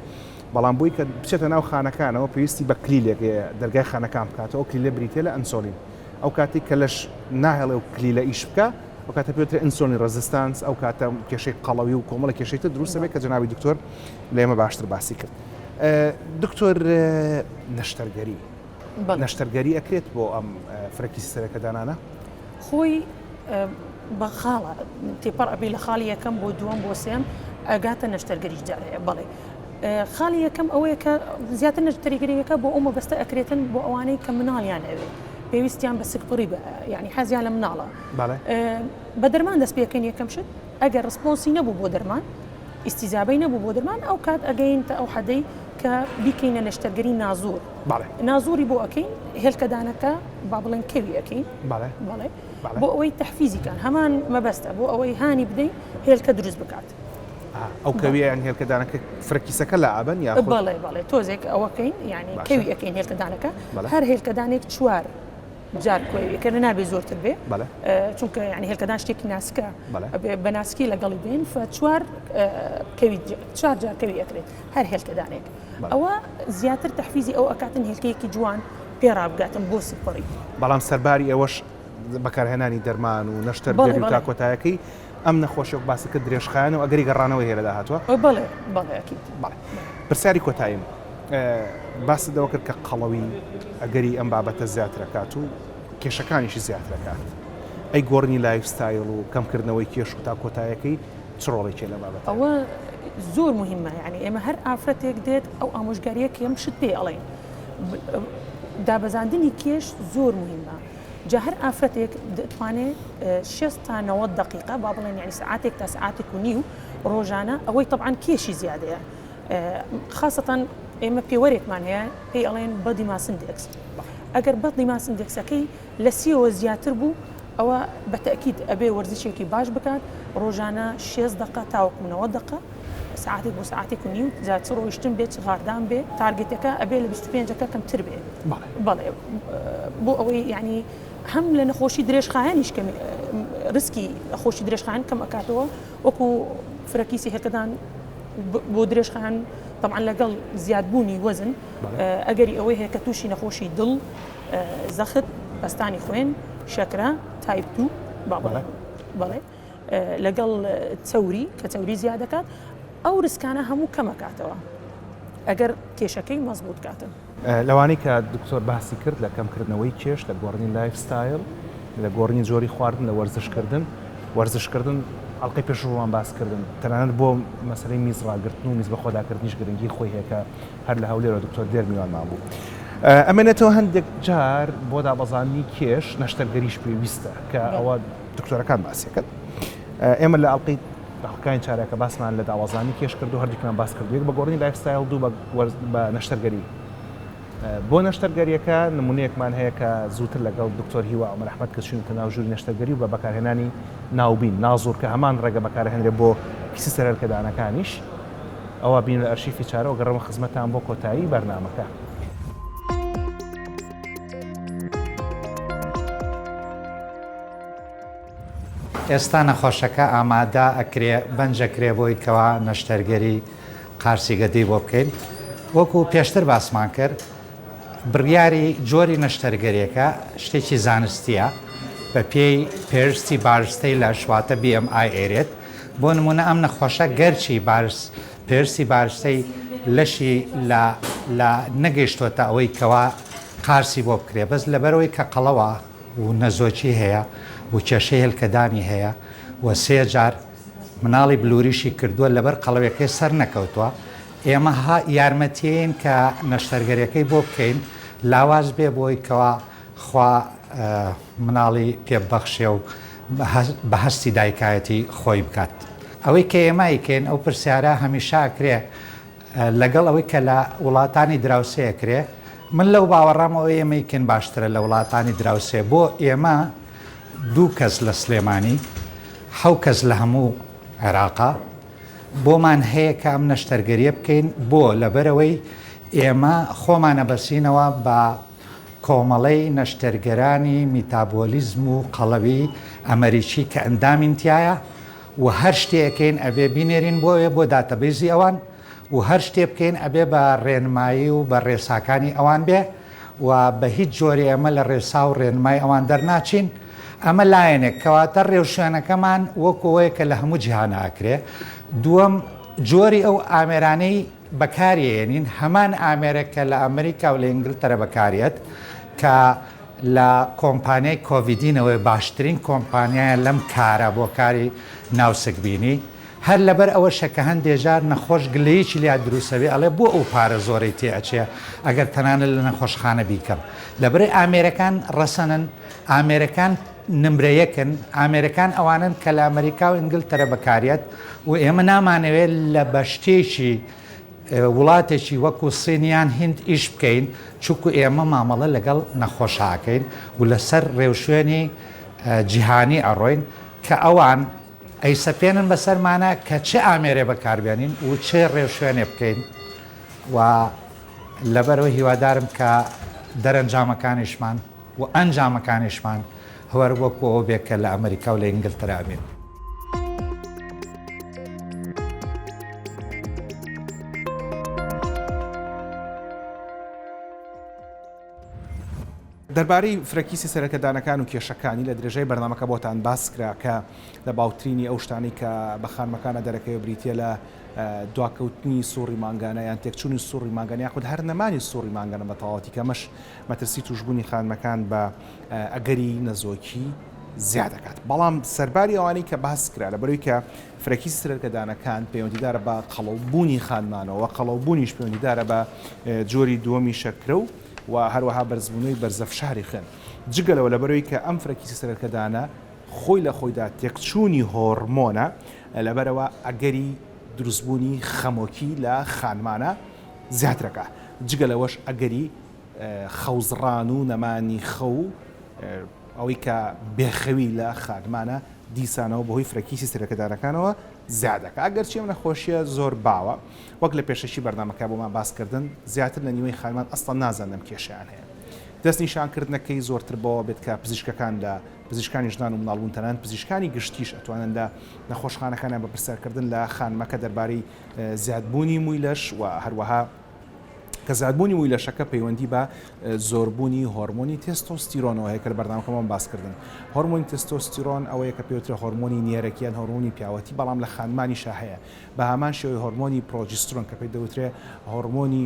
بەڵام بۆی کە بچێتە ناو خانەکانەوە پێویستی بە کلیلێک دەرگای خانەکان بکاتەوە ئەو کلیلە بریتە لە ئەنسۆلین ئەو کاتی کە لەش ناهێڵێ و کلیلە ئیش بکە ئەو کاتە پێوترە ئینسۆنی ڕزستانس ئەو کاتە کێشەی قەڵەوی و کۆمەڵە کێشێتە دروستە بێت کە جناوی دکتۆر لێمە باشتر باسی کرد. دکتۆر نەشتەرگەری نەشتەرگەری ئەکرێت بۆ ئەم فرەکی سەرەکە دانانە خۆی بە خاڵە تێپەڕ ئەبی لە خاڵی یەکەم بۆ دووەم بۆ سێم ئەگاتە نەشتەرگەری جارەیە بڵێ خاڵی یەکەم ئەوەیە کە زیاتر نەشتەریگەریەکە بۆ ئەو مەبەستە ئەکرێتن بۆ ئەوانەی کە مناڵیان ئەوێت پێویستیان بە سکپڕی بە ینی حەزیان لە مناڵە بە دەرمان دەست پێکەن یەکەم شت ئەگەر ڕسپۆنسی نەبوو بۆ دەرمان ئیستیجابەی نەبوو بۆ درمان ئەو کات ئەگەین تە ئەو حەدەی کە بیکەینە نەشتەرگەری نازور نازوری بۆ ئەەکەین هێلکەدانەکە با بڵێن کەوی ئەەکەین بۆ ئەوەی تەحفیزیکان هەمان مەبەستە بۆ ئەوەی هانی بدەین هێلکە دروست بکات. ئەو کەویان هێلکەدانەکە فرەکیسەکە لە ئابن یا بەڵێ بەڵێ تۆزێک ئەوەکەین ینی کەوی ئەەکەین هێلکەدانەکە هەر هێلکەدانێک چوار جار کۆی کە نابێ زۆرتر بێ چونکە ینی هێلکەدان شتێکی ناسکە بە ناسکی لەگەڵی بین چوار کەوی چوار جار کەوی ئەکرێت هەر هێلکەدانێک ئەوە زیاتر تحفیزی ئەو ئەکاتن هێلکەیەکی جوان پێ ڕابگاتن بۆ سپڕی بەڵام سەرباری ئەوەش بەکارهێنانی دەرمان و نەشتەر تا کۆتایەکەی ئەم نەخۆشی وەک باست کرد درێژخایەنە و ئەگەری گەڕانەوەی هەیە لە داهاتووە؟ بەڵێ بەڵێ ئەکید. بەڵێ. پرسیاری کۆتاییم، باست لەوە کرد کە قەڵەوی ئەگەری ئەم بابەتە زیاتر ئەکات و کێشەکانیشی زیاتر ئەکات، ئەی گۆڕینی لایف ستایل و کەمکردنەوەی کێش و تا کۆتایەکەی چ ڕۆڵێکی هەیە لەم بابەتە؟ ئەوە زۆر موهیمە، یانی ئێمە هەر ئافرەتێک دێت ئەو ئامۆژگارییە کە ئێمە شت پێی ئەڵێین. دابەزاندنی کێش زۆر موهیمە. جا هەر ئافرەتێک دەتوانێ شێست تا نەوەد دەقیقە با بڵێن یعنی سعاتێک تا سعاتێک و نیو ڕۆژانە ئەوەی طبعاً کێشی زیادەیە خاصەتەن ئێمە پێوەرێکمان هەیە پێی ئەڵێن بە دیماسندێکس ئەگەر بە دیماسندێکسەکەی لە سیەوە زیاتر بوو ئەوە بە تەکیید ئەبێ وەرزشێکی باش بکات ڕۆژانە شێست دەقە تاوەکوونەوە دەقە سەعاتێک بۆ سەعاتێک و نیو جا چ ڕۆیشتن بێ چ غاردان بێ تارگێتەکە ئەبێ لە بیست و پێنج ەکە کەمتر بێ بەڵێ بۆ ئەوەی یعنی هەم لە نەخۆشی درێژخایەنیش کەمی رسکی خۆشی درێژخان کەم ئەکاتەوە وەکو فرەکیسی هەرکەدان بۆ درێژخان طبعا لەگەڵ زیادبوونی وەزن ئەگەری ئەوەی هەیە کە تووشی نەخۆشی دڵ زەخت پستانی خوێن شەکرە تایپ دوو بابڵێ بەڵێ لەگەڵ چەوری کە چەوری زیادەکات ئەو ریسکانە هەموو کەمەکاتەوە ئەگەر کێشەکەی مەزبوط کاتن. لەوانەی کە دکتۆر باسی کرد لە کەمکردنەوەی کێش لە گۆڕنی لایف ستایل لە گۆڕنی جۆری خواردن لە وەرزشکردن وەرزشکردن ئەڵلقەی پێشڕوان باس کردن تەنانەت بۆ مەسلەی میز ڕاگرتن و میز بە خۆداکردنیش گرنگی خۆی هەیەکە هەر لە هەولێرەوە دکتۆر دێر میوانمان بوو ئەمێنێتەوە هەندێک جار بۆ دابەزاننی کێش نەشتەرگەریش پێویستە کە ئەوە دکتۆرەکان باسیەکەت ئێمە لە ئەڵلقەی دەقەکانی چارەکە باسمان لە داوازانی کێش کردو هەردووکیان باس کرد یەک بە گۆڕی لایفستایل دوو بە نەشتەرگەری بۆ نەشتەرگەریەکە نمونەیەکمان هەیە کە زووتر لەگەڵ دکتۆر هیوا ئەمە رححمت کە چونکە ناو ژووری نەشتەرگەری و بە بەکارهێنانی ناوبین نازور کە هەمان ڕێگە بەکارهێنرێ بۆ پیسی سەرەرکەدانەکانیش ئەوە بین لە ئەرشیفی چارەوە گەڕەوە خزمەتان بۆ کۆتایی بەرنمەکە. ئێستا نەخۆشەکە ئامادە ئەکرێ بەنج ئەکرێ بۆی کەوا نەشتەرگەری قارچی گەدەی بۆ بکەین وەکو پێشتر باسمان کرد بڕیاری جۆری نەشتەرگەریەکە شتێکی زانستیە بە پێی پێرستی بارستەی لە شواتە BMI ئێرێت بۆ نمونە ئەم نەخۆشە گەرچی بارس پێرسی بارستەی لەشی لە نەگەیشتۆتە ئەوەی کەوا قارسی بۆ بکرێ بەس لەبەرەوەی کە قەڵەوە و نەزۆکی هەیە و کێشەی هێلکەدانی هەیە و سێ جار مناڵی بلوریشی کردووە لەبەر قەڵەوێکەی سەر نەکەوتووە ئێمە یارمەتیین کە نەشتەرگەریەکەی بۆ بکەین لاواز بێ بۆی کەوا خوا مناڵی پێ بەخشێ و بە هەستی دایکایەتی خۆی بکات ئەوەی کە ئێمایکەین ئەو پرسیارە هەمیشاکرێ لەگەڵ ئەوەی کە لە وڵاتانی دراوسێ ئەکرێ من لەو باوەڕام ئەوەی ئێمە ئیکەین باشترە لە وڵاتانی دراوسێ بۆ ئێمە دوو کەس لە سلێمانی حەو کەس لە هەموو عێراقا بۆمان هەیە کە ئەم نەشتەرگەریە بکەین بۆ لەبەرەوەی ئێمە خۆمانە بەسینەوە بە کۆمەڵەی نەشتەرگەرانی میتابۆلیزم و قەڵەوی ئەمەریکی کە ئەندامین تایە و هەر شتێ ئەکەین ئەبێ بینێرین بۆ ئەوێ بۆ داتەبەیزی ئەوان و هەر شتێ بکەین ئەبێ بە ڕێنمایی و بە ڕێساکانی ئەوان بێ و بە هیچ جۆرێ ئێمە لە ڕێسا و ڕێنمای ئەوان دەرناچین ئەمە لایەنێک کەواتە ڕێوشوێنەکەمان وەکو ئەوەیە کە لە هەموو جیهانا ئەکرێ دووەم جۆری ئەو ئامێرانەی بەکاریەیەنین هەمان ئامێرە کە لە ئەمریکا و لە ئینگلتەرە بەکاریەت کە لە کۆمپانیای کۆڤیدینەوەی باشترین کۆمپانیایە لەم کارە بۆ کاری ناوسکبینی هەر لەبەر ئەوەشە کە هەندێ جار نەخۆش گلەیەکی لیا دروسەبێ ئەڵێ بۆ ئەو پارە زۆرەی تێ ئەچێ ئەگەر تەنانەت لە نەخۆشخانە بیکەم لەبەرەی ئامێرەکان ڕەسەنن ئامێرەکان نمرە یەکن ئامێرەکان ئەوانن کە لە ئەمەریکا و ئینگلتەرە بەکاریەت و ئێمە نامانەوێ لە بەشتێکی وڵاتێکی وەکو سین یان هیند ئیش بکەین چونکو ئێمە مامەڵە لەگەڵ نەخۆش ئاکەین و لەسەر رێوشوێنی جیهانی ئەڕۆین کە ئەوان ئەیسەپێنن بەسەرمانا کە چ ئامێرێ بەکاربێنین و چ رێوشوێنێ بکەین و لەبەرەوە هیوادارم کە دەرەنجامەکانیشمان و ئەنجامەکانیشمان هەر وەکو ئەوە بێت کە لە ئەمریکا و لە ئینگلترا بێت. دەربارەی فرەکیسی سەرەکەدانەکان و کێشەکانی لە درێژای بەرنمەکە بۆتان باس کرا کە لە باوترینی ئەو شتانی کە بە خانمەکانە دەرەکەی بریتە لە دواکەوتنی سوڕی مانگانە یان تێکچوونی سوڕی ماگەنیا خود هەر نەمانی سوڕی مانگەنە بە تەواتی کەمەش مەترسی تووشبوونی خانمەکان بە ئەگەری نەزۆکی زیا دەکات بەڵام سەرباری ئەوانەی کە باس کرا لە بەروی کە فرەکی سرەرکەدانەکان پەیوەندیدارە بە قەڵەوبوونی خانمانەوە قەڵەوبوونیش پەیوەندیدارە بە جۆری دووەمی شەکرە و و هەروەها بەرزبوونەوەی بەرزە فشاری خوێن جگەلەوە لە بەروی کە ئەم فرەکی سرەرکەدانە خۆی لە خۆیدا تێکچوونی هۆرمۆنە لەبەرەوە ئەگەری دروستبوونی خەمۆکی لە خانمانە زیاترەکە جگە لەوەش ئەگەری خەوزڕان و نەمانی خەو و ئەوەی کە بێخەوی لە خانمانە دیسانەوە بەهۆی فرەکیسی سەرەکەدارەکانەوە زیادەکە ئەگەرچی ئەم نەخۆشیە زۆر باوە وەک لە پێشەکی بەرنمەکە بۆمان باسکردن زیاتر لە نیوەی خانمان ئەسڵان نازان لەم کێشیان هەیە دەست نیشانکردنەکەی زۆرتر بەوە بێت کە پزیشکەکان لە پزیشکانی ژنان و مناڵبوون تەنان پزیشکانی گشتیش ئەتوانن لە نەخۆشخانەکانیان بە پرسیارکردن لە خانمەکە دەربارەی زیادبوونی مووی لەش و هەروەها کە زیادبوونی مووی لەشەکە پەیوەندی بە زۆربوونی هۆرمۆنی تێستۆستیرۆنەوە هەیە کە لە بەرنامەکەمان باس کردن هۆرمۆنی تێستۆستیرۆن ئەوەیە کە پێوترە هۆرمۆنی نێرەکیان هۆرمۆنی پیاوەتی بەڵام لە خانمانی شاهەیە بە هامان شێوەی هۆرمۆنی پرۆجیسترۆن کە پێ دەوترێ هۆرمۆنی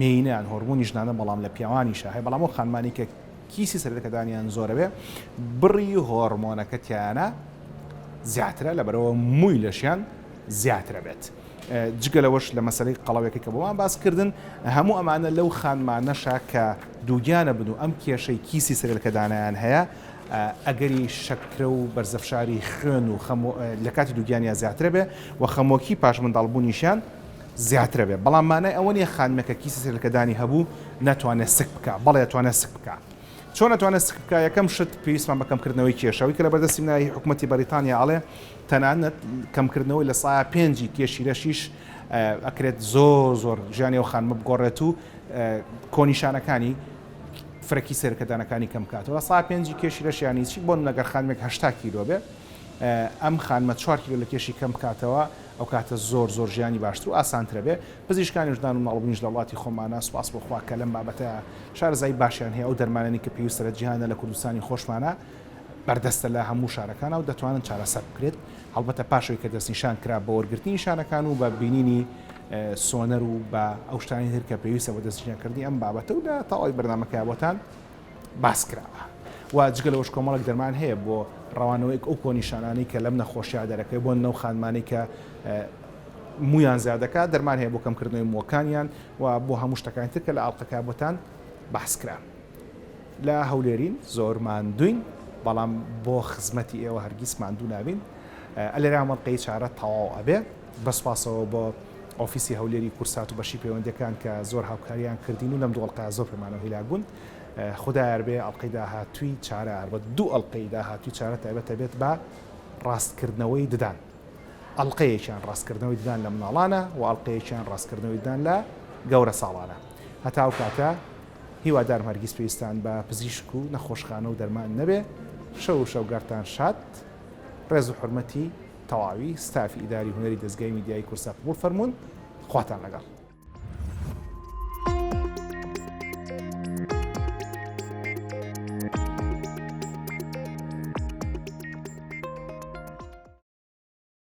مینیان هۆرمۆنی ژنانە بەڵام لە پیاوانی شاهەیە بەڵام ئەو خانمانی کە کیسی سەرەکەدانیان زۆرەوێ بڕی هۆرمۆنەکە تیانە زیاترە لەبەرەوە مووی لەشیان زیاترە بێت. جگە لەوەش لە مەسەلەی قەڵەوێکەی کە بۆمان باس کردن، هەموو ئەمانە لەو خانمانەشە کە دووگیانە بن و ئەم کێشەی کیسی سرێلکەدانیان هەیە، ئەگەری شەکرە و بەرزەفشاری خوێن و خەمۆ لە کاتی دووگیانیا زیاترە بێ و خەمۆکی پاش منداڵ بوونیشیان زیاترە بێ، بەڵام مانای ئەوە نیە خانمێک کە کیسی سرێلکەدانی هەبوو ناتوانێ سک بکا، بەڵێ ئەتوانێ سک بکا. چۆن ئەتوانێ سک بکا؟ یەکەم شت پێویستمان بە کەم کردنەوەی کێشە، ئەوەی کە لە بەردەستی منە هی حکومەتی بەریتانیا ئەڵێ تەنانەت کەمکردنەوەی لە سایە پێنجی کێشی رەشیش ئەکرێت زۆر زۆر ژیانی ئەو خانمە بگۆڕێت و کۆنیشانەکانی فرەکی سێرکەدانەکانی کەم کاتەوە سا پێنجی کێشی رەشیانی چی بۆن لەگەر خانمێک هشتا کیلۆ بێ ئەم خانمە چوار کیلۆ لە کێشی کەم بکاتەوە ئەو کاتە زۆر زۆر ژیانی باشتر و ئاسانترە بێ پزیشکانی ژدان و ناڵبنیش لە وڵاتی خۆمانە سوپاس بۆخوا کە لەم بابەتە شارزای باشیان هەیە ئەو دەرمانانی کە پێویستە لە جیهانە لە کوردستانی خۆشمانە بەردەستە لە هەموو شارەکانا و دەتوانن چارەسەر بکرێت، هەڵبەتە پاش ئەوی کە دەستنیشان کرا بە وەرگرتنی نیشانەکان و بە بینینی سۆنەر و بە ئەو شتانی تر کە پێویستە بۆ دەستنیشانکردنی ئەم بابەتە و لە تەواوی بەرنامەکەی بۆتان باس کراوە. و جگە لەوەش کۆمەڵێک دەرمان هەیە بۆ ڕەوانەوەیەک ئەو کۆنیشانانەی کە لەم نەخۆشیە دەرەکەی بۆن لەو خانمانەی کە مویان زیادەکە دەرمان هەیە بۆ کەمکردنەوەی مووەکانیان و بۆ هەموو شتەکانی تر کە لە ئاڵلقەکە بۆتان باسکرا. لە هەولێرین زۆر ماندووین بەڵام بۆ خزمەتی ئێوە هەرگیز ماندوو نابین ئەلێرا مەڵقەی چارە تەواو ئەبێ بەسپاسەوە بۆ ئۆفیسی هەولێری کورسات و بەشی پەیوەندەکان کە زۆر هاوکاریان کردین و لەم دوڵقا زۆر پێمانەوە هیلاک بوون خدایار بێ ئەڵلقەی داهاتوی چارە هەربەت دوو ئەڵلقەی داهاتوی چارە تایبەتە بێت بە ڕاستکردنەوەی ددان ئەڵلقەیەکیان ڕاستکردنەوەی ددان لە مناڵانە و ئەڵلقەیەکیان ڕاستکردنەوەی ددان لە گەورە ساڵانە هەتاو کاتە هیوادارم هەرگیز پێویستان بە پزیشک و نەخۆشخانە و دەرمان نەبێ شەو و شەوگەڕتان شاد ڕێز و حورمەتی تەواوی ستافی ئیداری و هونەری دەزگای میدیایی کورسا قبوڵ فەرموون خواتان لەگەڵ.